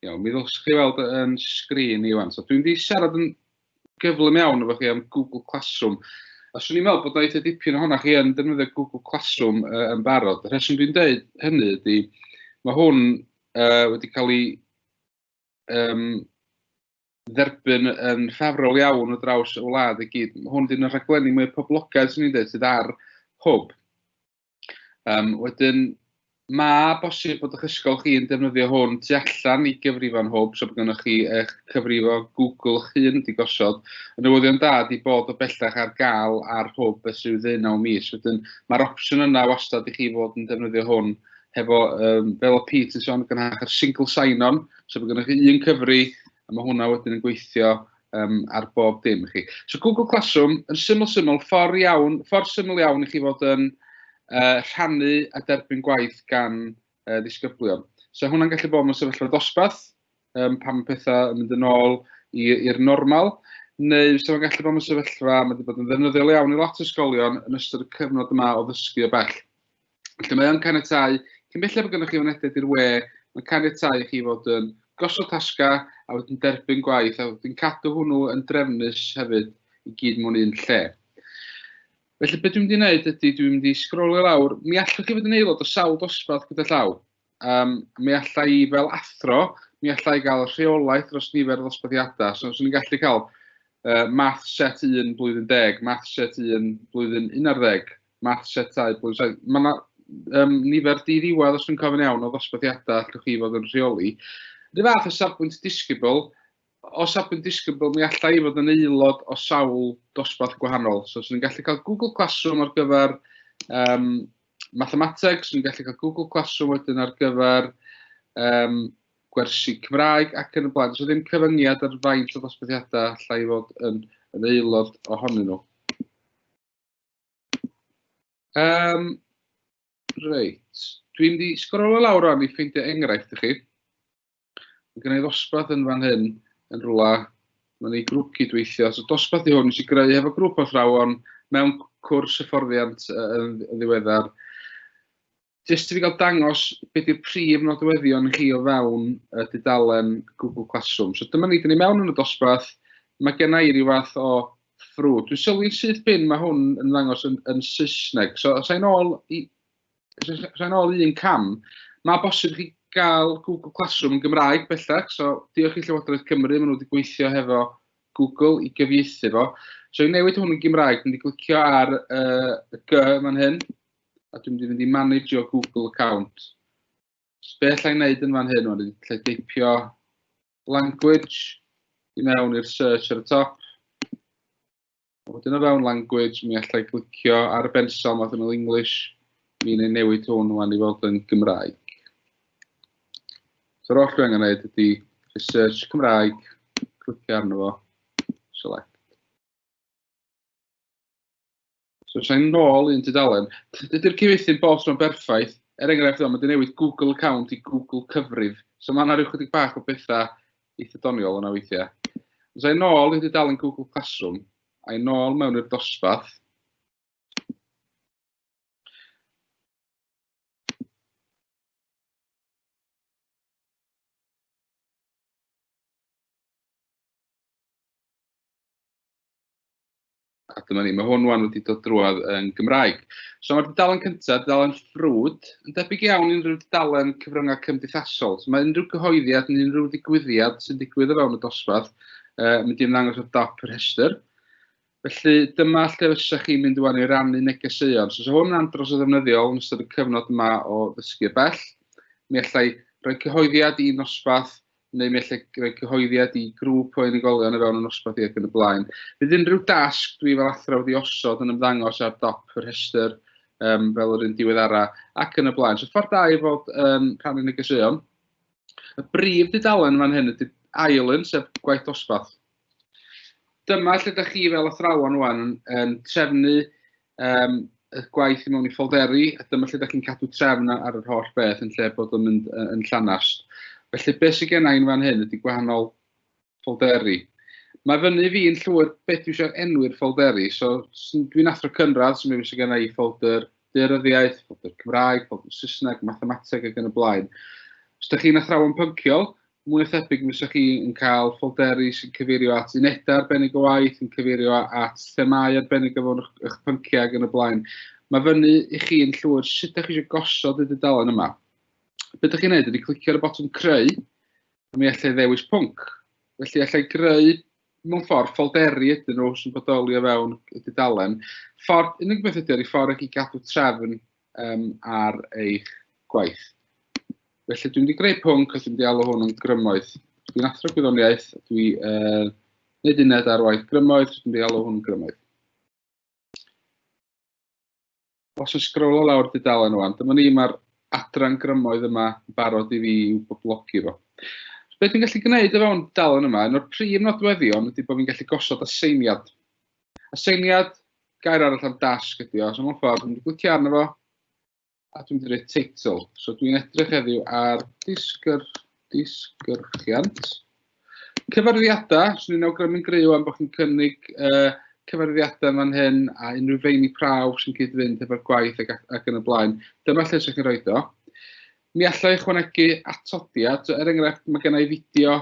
Iawn, mi ddylswch chi weld yn sgrin i wan. So, dwi'n di siarad yn gyflym iawn efo chi am Google Classroom. A swn i'n meddwl bod oedd dipyn o hwnna chi yn defnyddio Google Classroom uh, yn barod. Y rheswm dwi'n dweud hynny ydy, mae hwn uh, wedi cael ei um, dderbyn yn ffafrol iawn o draws y wlad i gyd. Hwn dyn y rhaglenni mwy poblogaidd sy'n ni'n dweud sydd ar hwb. Um, wedyn, mae bosib bod eich ysgol chi'n defnyddio hwn tu allan i gyfrifon hwb, so bod gennych chi eich cyfrifo Google eich hun wedi gosod. Yn newyddion da di bod o bellach ar gael ar hwb ys i'w ddyn o mis. Wedyn, mae'r opsiwn yna wastad i chi fod yn defnyddio hwn hefo, um, fel o Pete yn sôn, gynhach yr single sign-on, So mae gennych chi un cyfri, a mae hwnna wedyn yn gweithio um, ar bob dim chi. So Google Classroom, yn syml syml, ffordd iawn, ffordd syml iawn i chi fod yn uh, rhannu a derbyn gwaith gan uh, ddisgyblion. So hwnna'n gallu bod mewn sefyllfa dosbarth, um, pan mae pethau yn mynd yn ôl i'r normal, neu so mae'n gallu bod mewn sefyllfa, mae wedi bod yn ddefnyddiol iawn i lot o ysgolion yn ystod y cyfnod yma o ddysgu o bell. Felly mae o'n caniatau, cyn belled bod gennych chi fynediad i'r we, mae'n caniatau i chi fod yn gosod tasga a wedyn derbyn gwaith a wedyn cadw hwnnw yn drefnus hefyd i gyd mewn un lle. Felly beth dwi'n mynd i wneud ydy dwi'n mynd i sgrolio lawr, mi allwch chi fod yn aelod o sawl dosbarth gyda llaw. um, mi allai i fel athro, mi allai gael rheolaeth dros nifer o ddosbarthiadau. So, so ni'n gallu cael uh, math set 1 blwyddyn 10, math set 1 blwyddyn 11, math set 2 blwyddyn 7. Mae yna um, nifer di ddiwedd, os dwi'n cofyn iawn, o ddosbarthiadau allwch chi fod yn rheoli. Rydw fath o safbwynt disgybl, Os ydw i'n disgybl, mi alla i fod yn aelod o sawl dosbarth gwahanol. So, swn i'n gallu cael Google Classroom ar gyfer um, mathemateg, swn i'n gallu cael Google Classroom wedyn ar gyfer um, gwersi Cymraeg ac yn y blaen. So, ddim cyfyngiad ar faint o ddosbarthiadau alla i fod yn, yn aelod ohonyn nhw. Um, reit. Dwi'n di sgrolio lawr o'n i ffeindio enghraifft i chi. Mae gen i ddosbarth yn fan hyn, yn rhywle, mae'n ei grŵp cydweithio. So dosbarth i hwn, nes i greu hefo grŵp o thrawon mewn cwrs hyfforddiant yn ddiweddar. Jyst i fi gael dangos beth yw'r prif nodweddion chi o fewn y dudalen Google Classroom. So dyma ni, dyn ni mewn yn y dosbarth, mae gen i ryw fath o ffrwd. Dwi'n sylwi'n syth bin, mae hwn yn ddangos yn, yn Saesneg. So os ein ôl i, rhan ôl un cam, mae bosib chi gael Google Classroom yn Gymraeg bellach, so diolch i Llywodraeth Cymru, maen nhw wedi gweithio hefo Google i gyfieithu fo. So i newid hwn yn Gymraeg, dwi'n wedi clicio ar uh, y G fan hyn, a dwi'n mynd i fynd i manage your Google account. So be allai wneud yn fan hyn, o'n i'n lle deipio language i mewn i'r search ar y top. A wedyn o fewn language, mi allai glicio ar y bensol math yn English, mi'n ei newid hwn wan i fod yn Gymraeg. So'r oll dwi angen gwneud ydy research Cymraeg, clicio arno fo, select. So sa'n nôl un tudalen. Dydy'r cyfeithi bob tro'n berffaith. Er enghraifft, mae wedi newid Google account i Google cyfrif. So mae yna rhyw chydig bach o bethau eitha doniol yna weithiau. Os a'i nôl i dudalen Google Classroom, a'i nôl mewn i'r dosbarth, A dyma ni, mae hwn wan wedi dod drwad yn Gymraeg. So mae'r dudalen cyntaf, dudalen ffrwd, yn debyg iawn i unrhyw dudalen cyfryngau cymdeithasol. So mae unrhyw gyhoeddiad neu unrhyw ddigwyddiad sy'n digwydd o fewn y dosbarth uh, mynd i'n ddangos ar dop yr rhestr. Felly dyma lle fysa chi'n mynd iwan i rannu negeseuon. So, so hwn yn andros o ddefnyddiol yn ystod y cyfnod yma o ddysgu bell. Mi allai rhoi cyhoeddiad i nosbarth neu mi allai roi cyhoeddiad i grŵp o unigolion o fewn y nosbarth ac yn y blaen. Bydd unrhyw dasg dwi fel athrawd i osod yn ymddangos ar dop yr rhestr um, fel yr un diweddara ac yn y blaen. So ffordd da i fod yn rhan yn y gysuon. Y brif dudalen fan hyn ydy ail un, sef gwaith dosbarth. Dyma lle da chi fel athrawon wan yn, yn trefnu um, y gwaith i mewn i ffolderi, a dyma lle da chi'n cadw trefn ar yr holl beth yn lle bod yn mynd yn llanast. Felly beth sydd gen i'n fan hyn ydy gwahanol ffolderi. Mae fyny fi yn llwyr beth dwi eisiau enwi'r ffolderi, so dwi'n athro cynradd, so mae sydd gen i ffolder deuryddiaeth, ffolder Cymraeg, ffolder Saesneg, mathemateg ac yn y blaen. Os ydych chi'n athrawon pynciol, mwy na thebyg mi fysa chi yn cael ffolderi sy'n cyfeirio at unedau arbennig o waith, yn cyfeirio at themau arbennig o fewn eich pynciau ac yn y blaen. Mae fyny i chi yn llwyr sut ydych chi eisiau gosod y dudalen yma. Be ydych chi'n gwneud ydy clicio ar y botwm creu, a mi allai ddewis pwnc. Felly allai greu mewn ffordd ffolderi ydyn nhw sy'n bodoli o fewn y dudalen. Ffordd, unig beth ydy ar ei ffordd ac i gadw trefn um, ar eich gwaith. Felly dwi'n wedi greu pwnc, os dwi'n wedi alw hwn yn grymoedd. Dwi'n athro gwyddoniaeth, dwi uh, wneud uned ar waith grymoedd, dwi'n wedi alw hwn grymoedd. Os yn sgrolo lawr dudalen o'n, dyma ni mae'r adran grymoedd yma barod i fi i'w boblogi fo. Be dwi'n gallu gwneud o fewn dalen yma, un o'r prif nodweddion ydy bod fi'n gallu gosod aseiniad. Aseiniad, gair arall am dasg ydi o. So mewn ffordd, dwi'n glicio arno fo, a dwi'n dweud title. So dwi'n edrych heddiw ar disgyr, disgyrchiant. Cyfarwyddiadau, so ni'n awgrymu'n gryw am bod chi'n cynnig uh, cyfarwyddiadau fan hyn a unrhyw feini prawf sy'n cyd-fynd efo'r gwaith ac, ac yn y blaen. Dyma lle sy'n chi'n rhoi do. Mi allai ychwanegu atodiad, so er enghraifft mae gennau fideo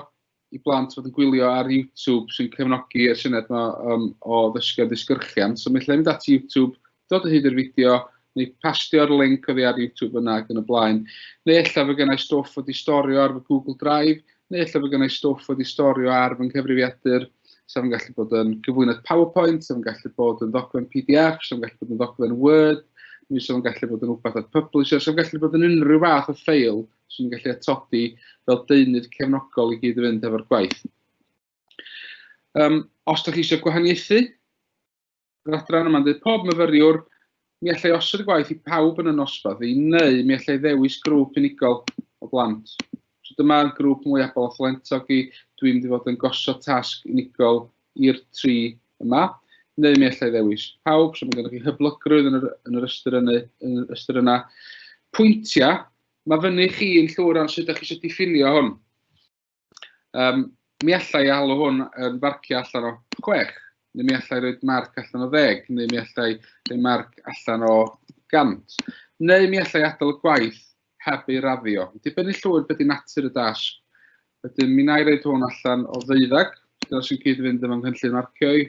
i blant fod yn gwylio ar YouTube sy'n cefnogi y syniad yma um, o ddysgu a ddisgyrchiant. So mi allai mynd at YouTube, dod o hyd i'r fideo, neu pastio'r link oddi ar YouTube yna ac yn y blaen. Neu efallai fe gennau stwff wedi storio ar fy Google Drive, neu efallai fe gennau stwff wedi storio ar fy nghyfrifiadur, sef yn gallu bod yn gyflwynydd PowerPoint, sef yn gallu bod yn ddogfen PDF, sef yn gallu bod yn ddogfen Word, neu sef yn gallu bod yn rhywbeth at Publisher, sef yn gallu bod yn unrhyw fath o ffeil 'swn i'n gallu atodi fel deunydd cefnogol i gyd-fynd efo'r gwaith. Um, os da chi eisiau gwahaniaethu, yr adran yma'n dweud pob myfyriwr, mi allai osod y gwaith i pawb yn y nosbarth i, neu mi allai ddewis grŵp unigol o blant. So dyma grŵp mwy abol o thalentog i, dwi'n mynd i fod yn gosod tasg unigol i'r tri yma neu mi allai ddewis pawb, so mae gennych chi hyblygrwydd yn yr, yn yr ystyr, yny, yn yr ystyr yna. Pwyntiau, Mae fyny chi yn llwyr rhan sut ydych chi eisiau diffinio hwn. Um, mi allai i alw hwn yn farciau allan o chwech, neu mi allai roed marc allan o ddeg, neu mi allai roed marc allan o gant, neu mi allai adael y gwaith heb ei raddio. Dibynnu llwyr beth i natur y dasg. Wedyn, mi na i roed hwn allan o ddeuddag, dyna sy'n cyd-fynd efo nghynllun marcio i.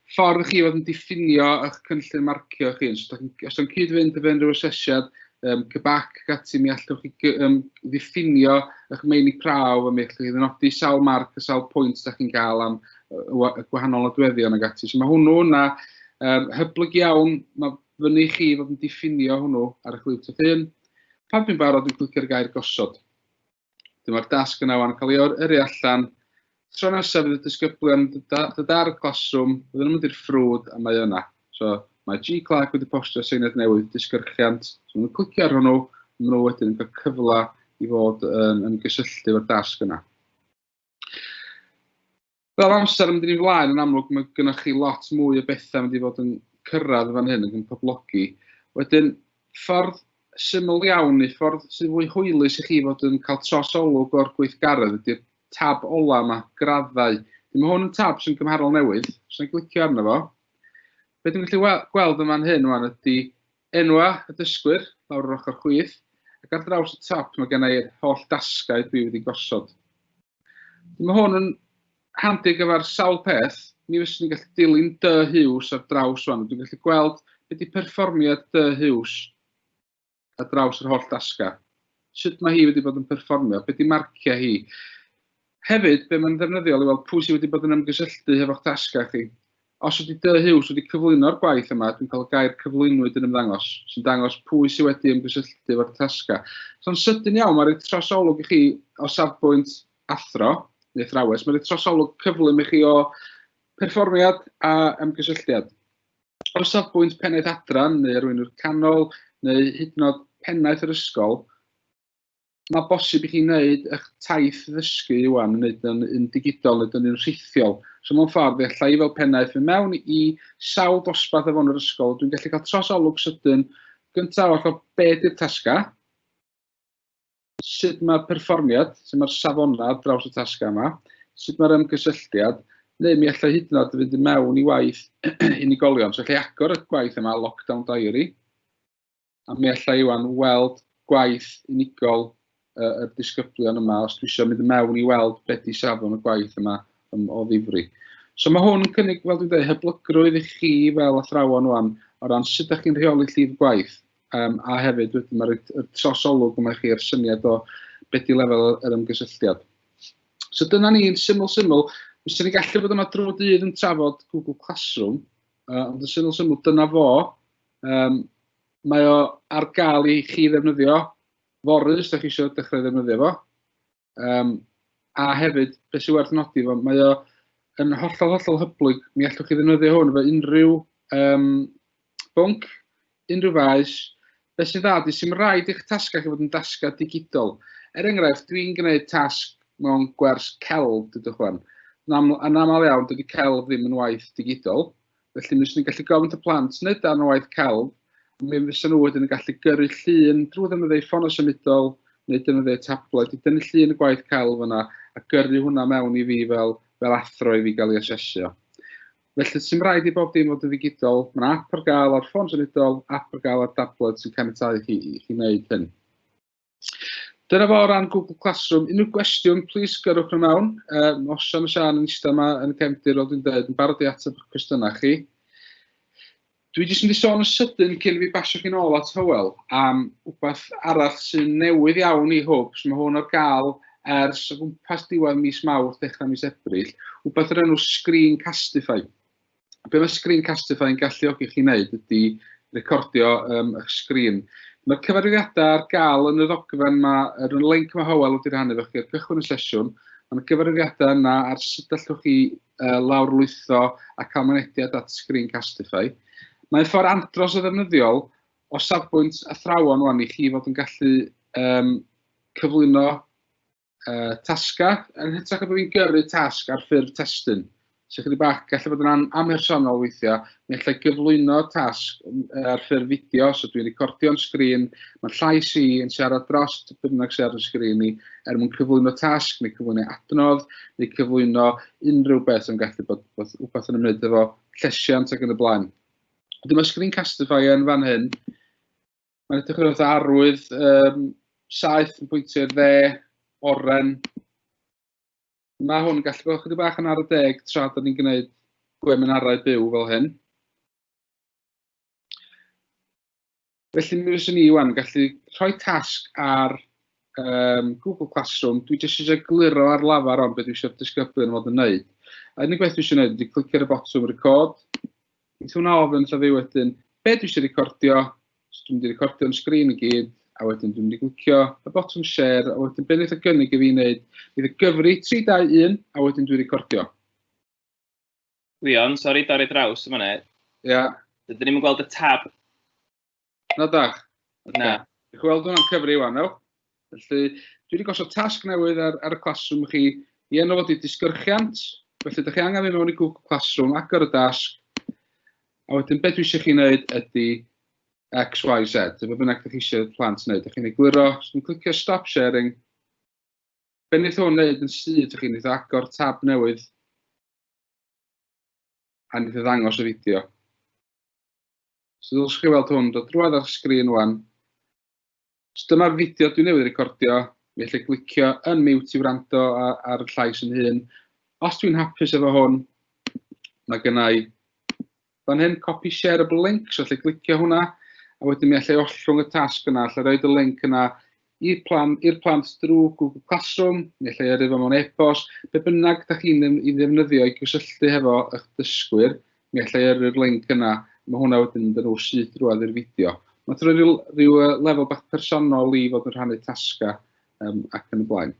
ffordd chi oedd yn diffinio eich cynllun marcio chi. Os ydych chi'n cyd-fynd efo unrhyw asesiad um, cybac ac ati, mi allwch chi um, ddiffinio eich meini prawf a mi allwch chi ddynodi sawl marc a sawl pwynt ydych chi'n cael am y gwahanol adweddion ac ati. So mae hwnnw yna um, hyblyg iawn, mae fyny chi fod yn diffinio hwnnw ar eich liwt eich hun. Pan dwi'n barod, dwi'n clicio'r gair gosod. Dyma'r dasg yna wan, cael ei yrru allan. Tro nesaf fydd y disgyblion dod ar y classroom, byddwn nhw'n mynd i'r ffrwd a mae yna. So, mae G Clark wedi postio seiniad newydd disgyrchiant. So, nhw'n clicio ar hwnnw, maen nhw wedyn yn cael cyfle i fod yn, yn gysylltu efo'r dasg yna. Fel amser yn mynd i'n flaen, yn amlwg mae gennych chi lot mwy o bethau yn mynd i fod yn cyrraedd fan hyn ac yn poblogi. Wedyn, ffordd syml iawn neu ffordd sy'n fwy hwylus i chi fod yn cael trosolwg o'r gweithgaredd ydy'r tab ola yma, graddau. Dyma hwn yn tab sy'n gymharol newydd, sy'n glicio arno fo. Be dwi'n gallu gweld yn fan hyn yma ydy Enwa y dysgwyr, lawr yr ochr chwith, ac ar draws y top mae gen i'r holl dasgau dwi wedi gosod. Dwi mae hwn yn handi gyfer sawl peth, mi fyswn i'n gallu dilyn dy hiws ar draws fan, dwi'n gallu gweld beth di perfformiad dy hiws ar draws yr holl dasgau. Sut mae hi wedi bod yn perfformio, beth di marciau hi, Hefyd, be mae'n ddefnyddiol i weld pwy sydd wedi bod yn ymgysylltu hefo'ch tasgau chi. Os ydy Dŷ Hughes wedi cyflwyno'r gwaith yma, dwi'n cael y gair cyflwynwyd yn ymddangos, sy'n dangos pwy sydd wedi ymgysylltu efo'r tasgau. So'n sydyn iawn, mae'n rhoi trosolwg i chi o safbwynt athro, neu athrawes, mae'n rhoi trosolwg cyflym i chi o perfformiad a ymgysylltiad. O safbwynt pennaeth adran neu arweinwr canol neu hyd yn oed pennaeth yr ysgol, mae bosib i chi wneud eich taith ddysgu iwan, wneud yn, yn digidol, wneud yn rhithiol. So mewn ffordd, fe allai fel pennaeth fy mewn i sawl dosbarth efo yn yr ysgol, dwi'n gallu cael tros olwg sydyn gyntaf o'r ffordd be di'r tasga, sut mae'r perfformiad, sut mae'r safonau draws y tasga yma, sut mae'r ymgysylltiad, neu mi allai hyd yn oed fynd i mewn i waith unigolion. So allai agor y gwaith yma, lockdown diary, a mi allai Iwan weld gwaith unigol uh, y disgyblion yma os dwi eisiau mynd mewn i weld beth di safon y gwaith yma um, o ddifri. So mae hwn yn cynnig, fel dwi'n dweud, hyblygrwydd i chi fel athrawon o'n o ran sut ydych chi'n rheoli llif gwaith um, a hefyd wedyn mae'r trosolwg yma chi a'r syniad o beth di lefel yr ymgysylltiad. So dyna ni'n syml syml, Fes ni gallu bod yma drwy dydd yn trafod Google Classroom, uh, ond yn syml syml dyna fo, Yym mae o ar gael i chi ddefnyddio fory os da chi eisiau dechrau ddefnyddio fo. Yym a hefyd, be sy'n werth nodi fo, mae o yn hollol hollol hyblyg. Mi allwch chi ddefnyddio hwn efo unrhyw um, bwnc, unrhyw faes. Be sy'n dda di, sy'n rhaid i'ch tasgau chi fod yn dasgau digidol. Er enghraifft, dwi'n gwneud tasg mewn gwers celf, dydwch fan. Yn aml iawn, dydy celf ddim yn waith digidol. Felly, mi fyswn i'n gallu gofyn y plant wneud darn o waith celf, a mi fyswn nhw wedyn yn gallu gyrru llun drwy ddefnyddio ffôn o symudol neu defnyddio tablet i dynnu llun y gwaith celf yna a gyrru hwnna mewn i fi fel, fel athro i fi gael ei asesio. Felly, sy'n rhaid i bob dim fod yn ddigidol. Mae yna app ar gael ar ffôn symudol, app ar gael ar tablet sy'n caniatau chi i chi wneud hyn. Dyna fo o ran Google Classroom. Unrhyw gwestiwn, plis gyrwch nhw mewn. Um, os Sian a Sian yn eistedd yma yn y cefndir, fel dwi'n dweud, yn barod i ateb eich cwestiynau chi. Dwi jyst yn di sôn yn sydyn cyn fi basio chi'n ôl at Hywel am rhywbeth arall sy'n newydd iawn i hwb, sy'n hwn ar gael ers o gwmpas diwedd mis mawrth, dechrau mis Ebrill, rhywbeth yr enw Screen Castify. be mae Screencastify yn galluogi chi wneud ydy recordio um, eich sgrin. Mae'r cyfarwyddiadau ar gael yn y ddogfen yma, yn y link mae Howell wedi rhannu efo chi ar gychwyn y sesiwn. Mae yna gyfarwyddiadau yna ar sut allwch chi uh, lawrlwytho a cael mynediad at Screencastify. Mae'n ffordd andros o ddefnyddiol o safbwynt athrawon wan i chi fod yn gallu um, cyflwyno uh, tasgau, yn hytrach na bod fi'n gyrru tasg ar ffurf testyn. So chydig bach, gallu bod yn am amhersonol weithiau, mi allai gyflwyno tasg ar ffurf fideo, so dwi'n recordio'n sgrin, mae llais i yn siarad dros bynnag sydd ar y sgrin i, er mwyn cyflwyno tasg, neu cyflwyno adnodd, neu cyflwyno unrhyw beth yn gallu bod, bod wbeth yn ymwneud efo llesiant ac yn y blaen. Dyma Screencastify yn fan hyn, Mae'n edrych yn fath arwydd, um, saith yn pwyntio i'r dde, oren. Mae hwn yn gallu bod chydig bach yn ar y deg tra da ni'n gwneud gweminarau byw fel hyn. Felly mi fyswn ni iwan gallu rhoi tasg ar um, Google Classroom. Dwi jyst eisiau gluro ar lafar ond beth dwi eisiau disgyblion fod yn wneud. A unig beth dwi eisiau wneud ydy clicio ar y botwm record. Ti'n swnio ofn wrtha fi wedyn, be dwi eisiau recordio, so dwi'n mynd i recordio yn sgrin i gyd, a wedyn dwi'n mynd i glicio y botwm share, a wedyn be wneud y gynnig i fi wneud, bydd y gyfri 3, 2, 1, a wedyn dwi'n recordio. Leon, sori, dorri draws yma ne. Ia. Dydyn ni'n gweld y tab Na da. Okay. Na. Diolch weld hwnna'n cyfri yw anel. Felly, dwi wedi gosod tasg newydd ar, ar y classroom chi i enw fod i disgyrchiant. Felly, ydych chi angen mynd mewn i Google Classroom, agor y dasg, a wedyn beth dwi eisiau chi wneud ydy X, Y, Z. Dyma bynnag ydych chi eisiau plant wneud. Ydych chi'n egluro, os chi'n clicio stop sharing, be wneud hwn wneud yn syth, ydych chi'n eitha agor tab newydd a wneud ddangos y fideo. So ddylech chi weld hwn dod drwad ar sgrin wan. So dyma'r fideo dwi newydd recordio. Mi allai glicio yn mute i wrando ar y llais yn hun. Os dwi'n hapus efo hwn, mae gennau fan hyn copy shareable link, so allai glicio hwnna, a wedyn mi allai ollwng y tasg yna, allai roed y link yna i'r plan, i'r plant drwy Google Classroom, neu lle yrru fo mewn e-bost, be bynnag da chi'n ei ddefnyddio i gysylltu hefo eich dysgwyr, neu lle yrru'r link yna, mae hwnna wedyn yn dyn nhw syth drwad i'r fideo. Mae'n troi rhyw, rhyw lefel bach personol i fod yn rhannu tasga um, ac yn y blaen.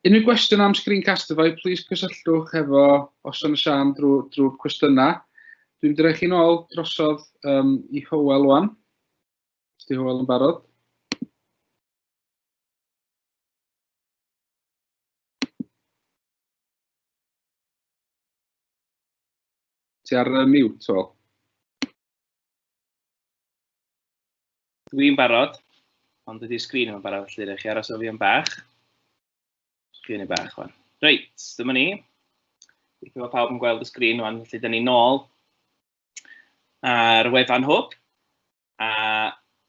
Unrhyw gwestiwn am Screencastify, plis cysylltwch hefo Oson y Sian drwy'r drwy cwestiynau. Dwi'n mynd i roi chi'n ôl drosodd um, i Howell wan. Os di Hywel yn barod. Ti ar uh, mute, Hywel? Dwi'n barod, ond ydy'r sgrin yma'n barod, felly rhaid chi aros o fi am bach. Sgrin i bach, fan. Reit, dyma ni. Dwi'n gwybod pawb yn gweld y sgrin, fan, felly dyn ni nôl ar wefan hwb. A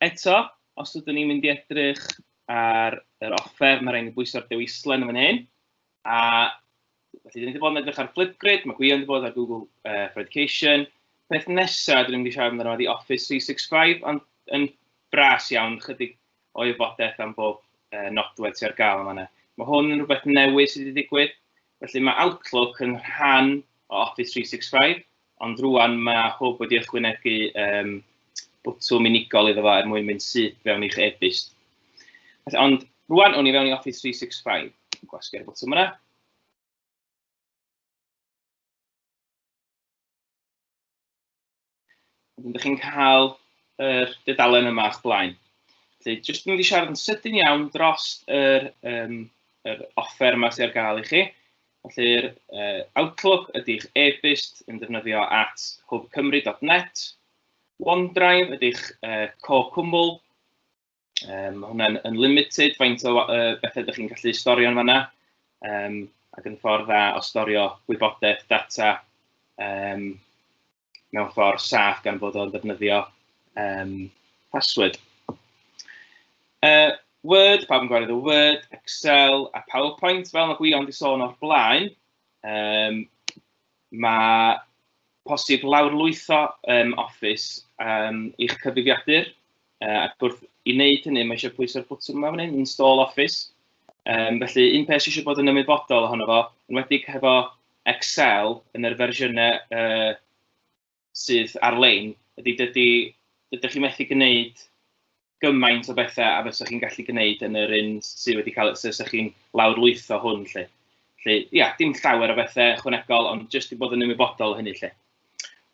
eto, os ydyn ni'n mynd i edrych ar yr offer, mae rhaid i bwyso'r dewislen yn fan hyn. A felly, dyn ni wedi bod yn edrych ar Flipgrid, mae Gwion wedi bod ar Google uh, for Education. Peth nesaf, dyn ni wedi siarad amdano wedi Office 365, ond yn bras iawn, chydig o wybodaeth am bob uh, nodwedd sy'n ar gael yma. yna. Mae hwn yn rhywbeth newydd sydd wedi digwydd, felly mae Outlook yn rhan o Office 365, Ond rwan mae hwb wedi ychwynegu um, bwtwm unigol iddo fo er mwyn mynd syth fewn i'ch e-byst. Ond rwan o'n i fewn i Office 365. Gwasgu'r bwtwm yna. Wedyn ydych chi'n cael yr dudalen yma o'ch blaen. Felly, jyst mynd i siarad yn sydyn iawn dros yr, um, yr offer yma sydd ar gael i chi. Felly'r uh, Outlook ydy'ch e-byst yn defnyddio at hwbcymru.net. OneDrive ydy'ch uh, co cwmwl. Um, mae hwnna'n unlimited faint o uh, bethau ydych chi'n gallu storio yn fanna. Um, ac yn ffordd dda o storio gwybodaeth, data, um, mewn ffordd saff gan fod o'n ddefnyddio um, password. Uh, Word, pawb yn gwario the Word, Excel a PowerPoint, fel mae Gwion wedi sôn o'r blaen, um, mae posib lawrlwytho um, Office um, i'ch cyfrifiadur Uh, ac wrth i wneud hynny, mae eisiau pwyso'r bwtwm yma fan hyn, install office. Um, felly, un peth sydd eisiau bod yn ymwybodol ohono fo, yn wedi hefo Excel yn yr fersiynau uh, sydd ar-lein, ydy dydy, dydych chi'n methu gwneud gymaint o bethau a fysa chi'n gallu gwneud yn yr un sydd wedi cael, sydd wedi chi'n lawr lwytho hwn, lle. Felly, ia, dim llawer o bethau chwanegol, ond jyst i bod yn ymwybodol o hynny, lle.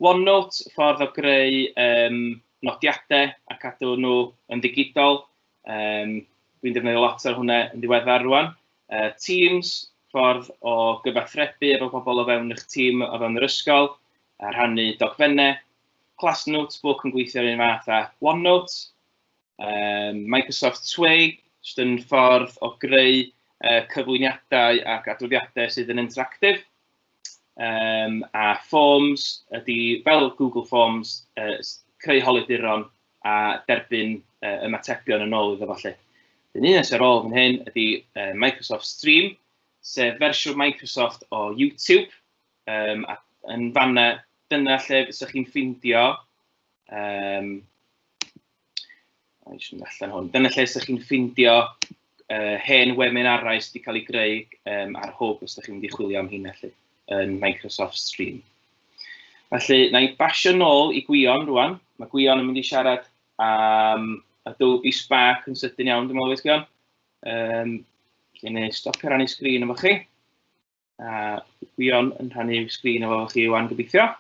OneNote, ffordd o greu um, nodiadau a cadw nhw yn ddigidol. Um, Dwi'n defnyddio lot ar hwnna yn ddiweddar rwan. Uh, teams, ffordd o gyfathrebu efo pobl o fewn eich tîm o fewn yr ysgol, a rhannu dogfennau. Class Notebook yn gweithio'r un fath â OneNote. Um, Microsoft Sway, jyst yn ffordd o greu uh, cyflwyniadau ac adroddiadau sydd yn interactif. Um, a Forms ydy fel Google Forms, uh, creu holiduron a derbyn uh, ymatebion yn ôl iddo falle. Dyn ni'n nes ar ôl fan hyn ydy uh, Microsoft Stream, sef fersiwn Microsoft o YouTube. Um, a yn fanna, dyna lle fysych chi'n ffeindio um, Mae'n siŵr allan hwn. Dyna lle ydych chi'n ffindio uh, hen weminarau sydd wedi cael ei greu um, ar hwb os ydych chi'n mynd i chwilio am hyn allu yn Microsoft Stream. Felly, na i basio nôl i Gwion rwan. Mae Gwion yn mynd i siarad am Adobe Spark yn sydyn iawn, dwi'n meddwl, Gwion. Um, Dwi'n ei stopio rannu sgrin efo chi. A Gwion yn rhannu sgrin efo chi wan gobeithio.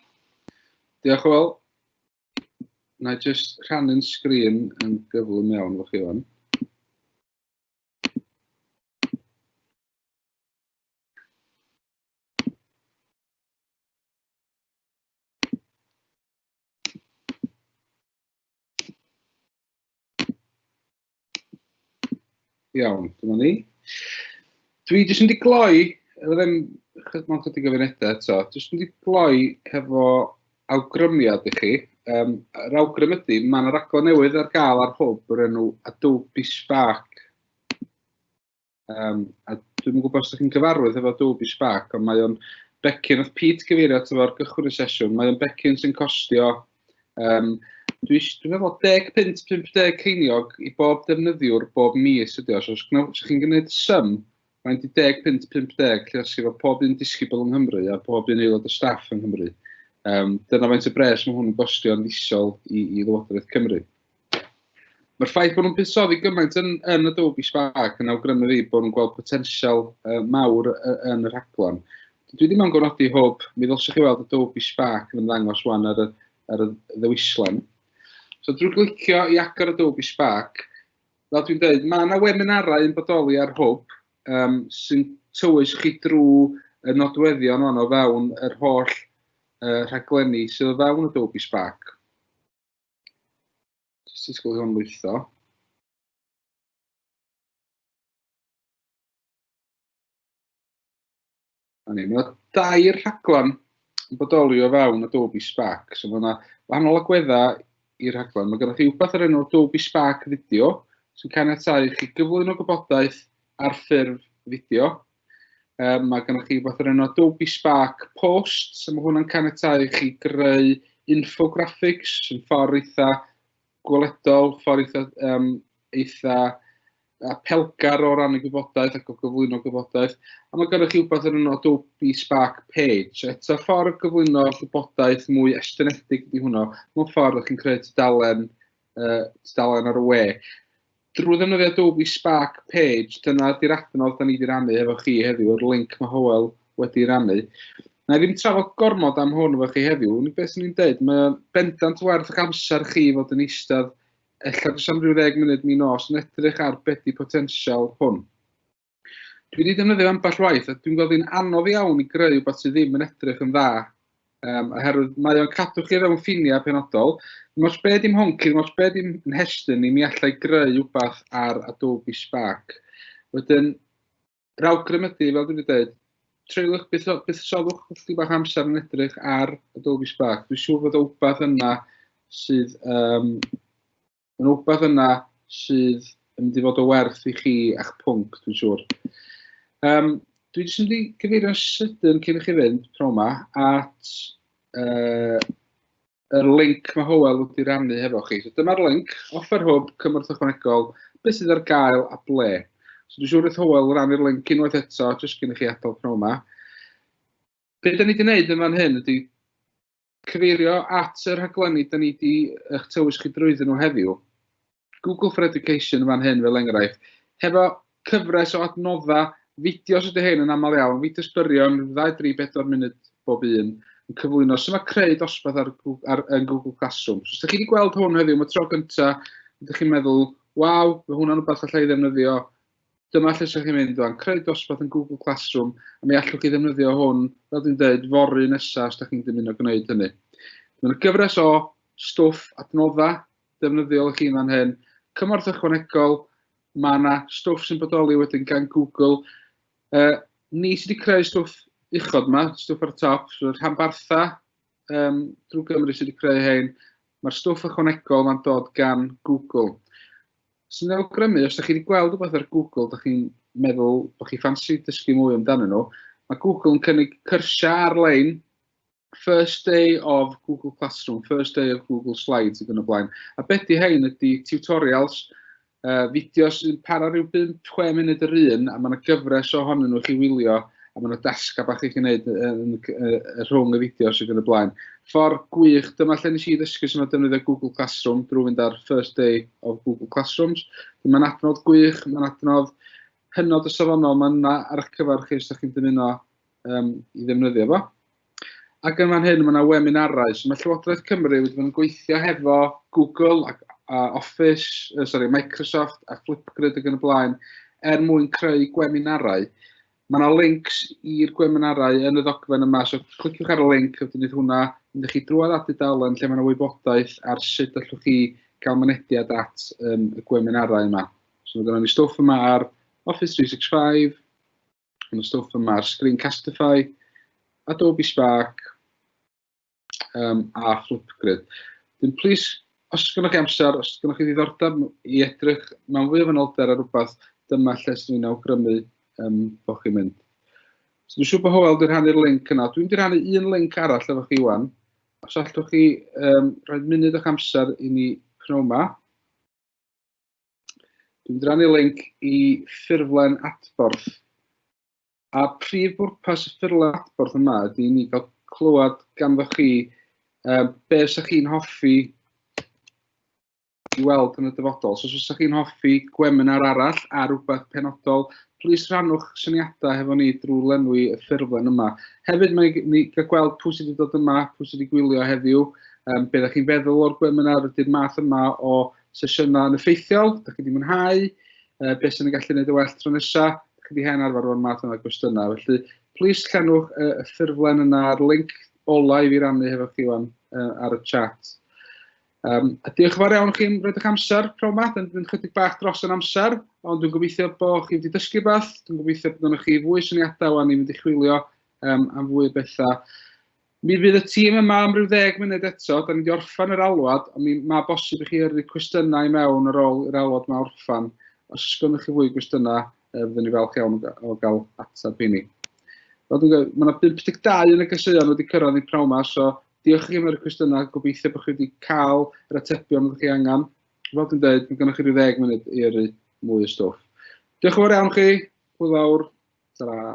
Diolch, Will. na i jyst rhannu'n sgrin yn gyflym iawn efo chi fan. Iawn, dyma ni. Dwi jyst yn di gloi, ddim mae'n chydig o funedau eto, jyst yn di gloi hefo awgrymiad i chi. Um, yr awgrym ydy, mae yna raglen newydd ar gael ar hwb o'r enw Adobe Spark. Um, a dwi'n gwybod os ydych chi'n gyfarwydd efo Adobe Spark, ond mae o'n becyn, oedd Pete gyfeirio at efo'r gychwyn y sesiwn, mae o'n becyn sy'n costio, um, dwi'n dwi meddwl 10 pint, 50 ceiniog i bob defnyddiwr bob mis ydi o. So, os ydych chi'n gwneud sym, mae'n 10 pint, 50, lle os efo pob un disgybl yng Nghymru a pob un aelod o staff yng Nghymru. Um, dyna faint y bres mae hwn yn gostio yn isol i, i Lywodraeth Cymru. Mae'r ffaith bod nhw'n buddsoddi gymaint yn, yn Adobe Spark yn awgrymu fi bod nhw'n gweld potensial uh, mawr yn y rhaglen. Dwi ddim yn gofnodi hwb, mi ddylswch chi weld Adobe Spark yn ymddangos wan ar y, ar y ddewislen. So drwy glicio i agor Adobe Spark, fel dwi'n dweud, mae yna weminarau yn bodoli ar hwb um, sy'n tywys chi drwy y nodweddion o'n o fewn yr holl uh, rhaglenni sydd o fewn Adobe Spark. Just i sgwyl hwn lwytho. A ni, mae dair rhaglen yn bodoli o fewn Adobe Spark. So mae yna wahanol agweddau i'r rhaglen. Mae gennych chi wbeth ar enw Adobe Spark Video sy'n caniatáu i chi gyflwyno gwybodaeth ar ffurf fideo Um, mae gennych chi rhywbeth o'r enw Adobe Spark Post, so mae hwnna'n canetau i chi greu infographics yn ffordd eitha gweledol, ffordd eitha, um, eitha uh, pelgar o ran y gwybodaeth ac o gyflwyno gwybodaeth. A mae gennych chi rhywbeth o'r enw Adobe Spark Page. Eto ffordd gyflwyno gwybodaeth mwy estynedig ydy hwnna. Mae'n ffordd ydych chi'n creu tudalen, uh, tudalen ar y we. Drwy ddefnyddio Adobe Spark Page, dyna ydy'r adnodd da ni wedi rannu hefo chi heddiw, yr link mae Hywel wedi rannu. Na i ddim trafod gormod am hwn efo chi heddiw, unig beth sy'n ni'n dweud, mae bendant werth eich amser chi fod yn eistedd ella jyst am rhyw ddeg munud mi nos yn edrych ar beth di potensial hwn. Dwi wedi defnyddio ambell waith, a dwi'n gweld hi'n anodd iawn i greu rhywbeth sydd ddim yn edrych yn dda, um, oherwydd mae o'n cadw chi fewn ffiniau penodol. Dim os be dim honci, dim os be dim yn hestyn ni, mi allai greu rhywbeth ar Adobe Spark. Wedyn, yr awgrym ydy, fel dwi wedi dweud, treuliwch beth, beth soddwch chi bach amser yn edrych ar Adobe Spark. Dwi'n siŵr bod o wbeth yna sydd um, Mae'n rhywbeth yna sydd yn mynd i fod o werth i chi a'ch pwnc, dwi'n siŵr. Um, dwi jyst yn mynd i gyfeirio'n sydyn cyn i chi fynd, pro yma, at uh, yr link mae Howell wedi rannu hefo chi. So dyma'r link, offer hwb, cymorth ychwanegol, beth sydd ar gael a ble. So dwi'n siŵr wrth Howell rannu'r link unwaith eto, jyst cyn i chi adael pro yma. Be da ni wedi gwneud yn fan hyn ydy cyfeirio at y rhaglenni da ni 'di eich tywys chi drwyddyn nhw heddiw, Google for Education yn fan hyn fel enghraifft, hefo cyfres o adnoddau fideos ydy hyn yn aml iawn, fideos byrion, 2-4 munud bob un, yn cyflwyno sy'n mae creu dosbarth ar, ar, ar Google Classroom. So, os ydych chi wedi gweld hwn heddiw, mae tro gyntaf, ydych chi'n meddwl, waw, mae hwnna'n rhywbeth allai ddefnyddio Dyma lle sy'n chi'n mynd rwan, creu dosbarth yn Google Classroom, a mi allwch chi ddefnyddio hwn, fel dwi'n dweud, fory nesaf os da chi'n dymuno gwneud hynny. Mae'n gyfres o stwff adnoddau defnyddiol i chi yn fan hyn, cymorth ychwanegol, mae yna stwff sy'n bodoli wedyn gan Google. Uh, ni sydd wedi creu stwff uchod yma, stwff ar y top, so rhanbartha um, drwy Gymru sydd wedi creu hyn. Mae'r stwff ychwanegol mae'n dod gan Google. Sy'n awgrymu, os ydych chi wedi gweld rhywbeth ar Google, ydych chi'n meddwl bod chi ffansi dysgu mwy amdano nhw, mae Google yn cynnig cyrsiau ar-lein first day of Google Classroom, first day of Google Slides ac yn y blaen. A beth di hein ydy tutorials, uh, fideos sy'n para rhyw 5-6 munud yr un, a mae yna gyfres ohonyn nhw chi wylio, a mae yna dasgau bach i chi wneud rhwng y fideos ac yn y blaen. Ffordd gwych, dyma lle nes i ddysgu sy'n o defnyddio Google Classroom drwy fynd ar First Day of Google Classrooms. Mae'n adnodd gwych, mae'n adnodd hynod y safonol, mae'n yna ar eich cyfer chi os ydych chi'n dymuno um, i ddefnyddio fo. Ac yn fan hyn, mae yna weminarau. So mae Llywodraeth Cymru wedi bod yn gweithio hefo Google ac a Office, uh, sorry, Microsoft a Flipgrid ac yn y blaen, er mwyn creu gweminarau. Mae yna links i'r gweminarau yn y ddogfen yma, so cliciwch ar y link, wedyn bydd hwnna yn ddech chi drwad at dudalen lle mae yna wybodaeth ar sut allwch chi gael mynediad at um, y gweminarau yma. So mae yna ni stwff yma ar Office 365, Yn y stwff yma, Screencastify, Adobe Spark um, a Flipgrid. Dyn, plis, os gynnwch chi amser, os gynnwch chi ddiddordeb i edrych mewn fwy o fanylder ar rhywbeth, dyma lle sy'n ni'n awgrymu um, bod chi'n mynd. So, dwi'n siŵr bod Howell wedi rhannu'r link yna. Dwi'n wedi rhannu un link arall efo chi wan. Os allwch chi um, rhoi munud o'ch amser i ni pnawn yma. Dwi'n mynd i rannu link i ffurflen adborth. A prif bwrpas y ffurflen adborth yma ydy ni gael clywed ganddo chi uh, be ydych chi'n hoffi i weld yn y dyfodol. So, os ydych chi'n hoffi gweminar arall a rhywbeth penodol, plis rhannwch syniadau hefo ni drwy lenwi y ffurflen yma. Hefyd, mae ni gael gweld pwy sydd wedi dod yma, pwy sydd wedi gwylio heddiw, um, beth ydych chi'n feddwl o'r gweminar, ydy'r math yma o sesiwn yma yn effeithiol, da chi wedi mwynhau, uh, beth sy'n ei gallu gwneud y well tro nesaf, da chi wedi hen arfer o'r math yma gwestiynau. Felly, plis llenwch uh, y ffurflen yna a'r link olau i fi rannu hefo chi wan uh, ar y chat. Um, a diolch yn fawr iawn chi'n rhaid eich amser, pnawn ma, dyn ni'n chydig bach dros yn amser, ond dwi'n gobeithio bod chi wedi dysgu beth, dwi'n gobeithio bod yna chi fwy syniadau wan i fynd i chwilio um, am fwy o bethau. Mi fydd y tîm yma am ryw ddeg munud eto, da ni wedi orffen yr alwad, ond mi mae bosib i chi yrru cwestiynau i mewn ar ôl i'r alwad yma orffen. Os oes gennych chi fwy gwestiynau, e, fyddwn ni falch iawn o gael ateb i ni. Fel dwi'n gwybod, mae yna 52 yn y gaseuon wedi cyrraedd ni pnawn yma, so diolch i chi am yr cwestiynau, gobeithio bod chi wedi cael yr atebion ydych chi angen. Fel dwi'n dweud, mae gennych chi rhyw ddeg munud i yrru mwy o stwff. Diolch yn fawr iawn chi, hwyl fawr, ta-ra.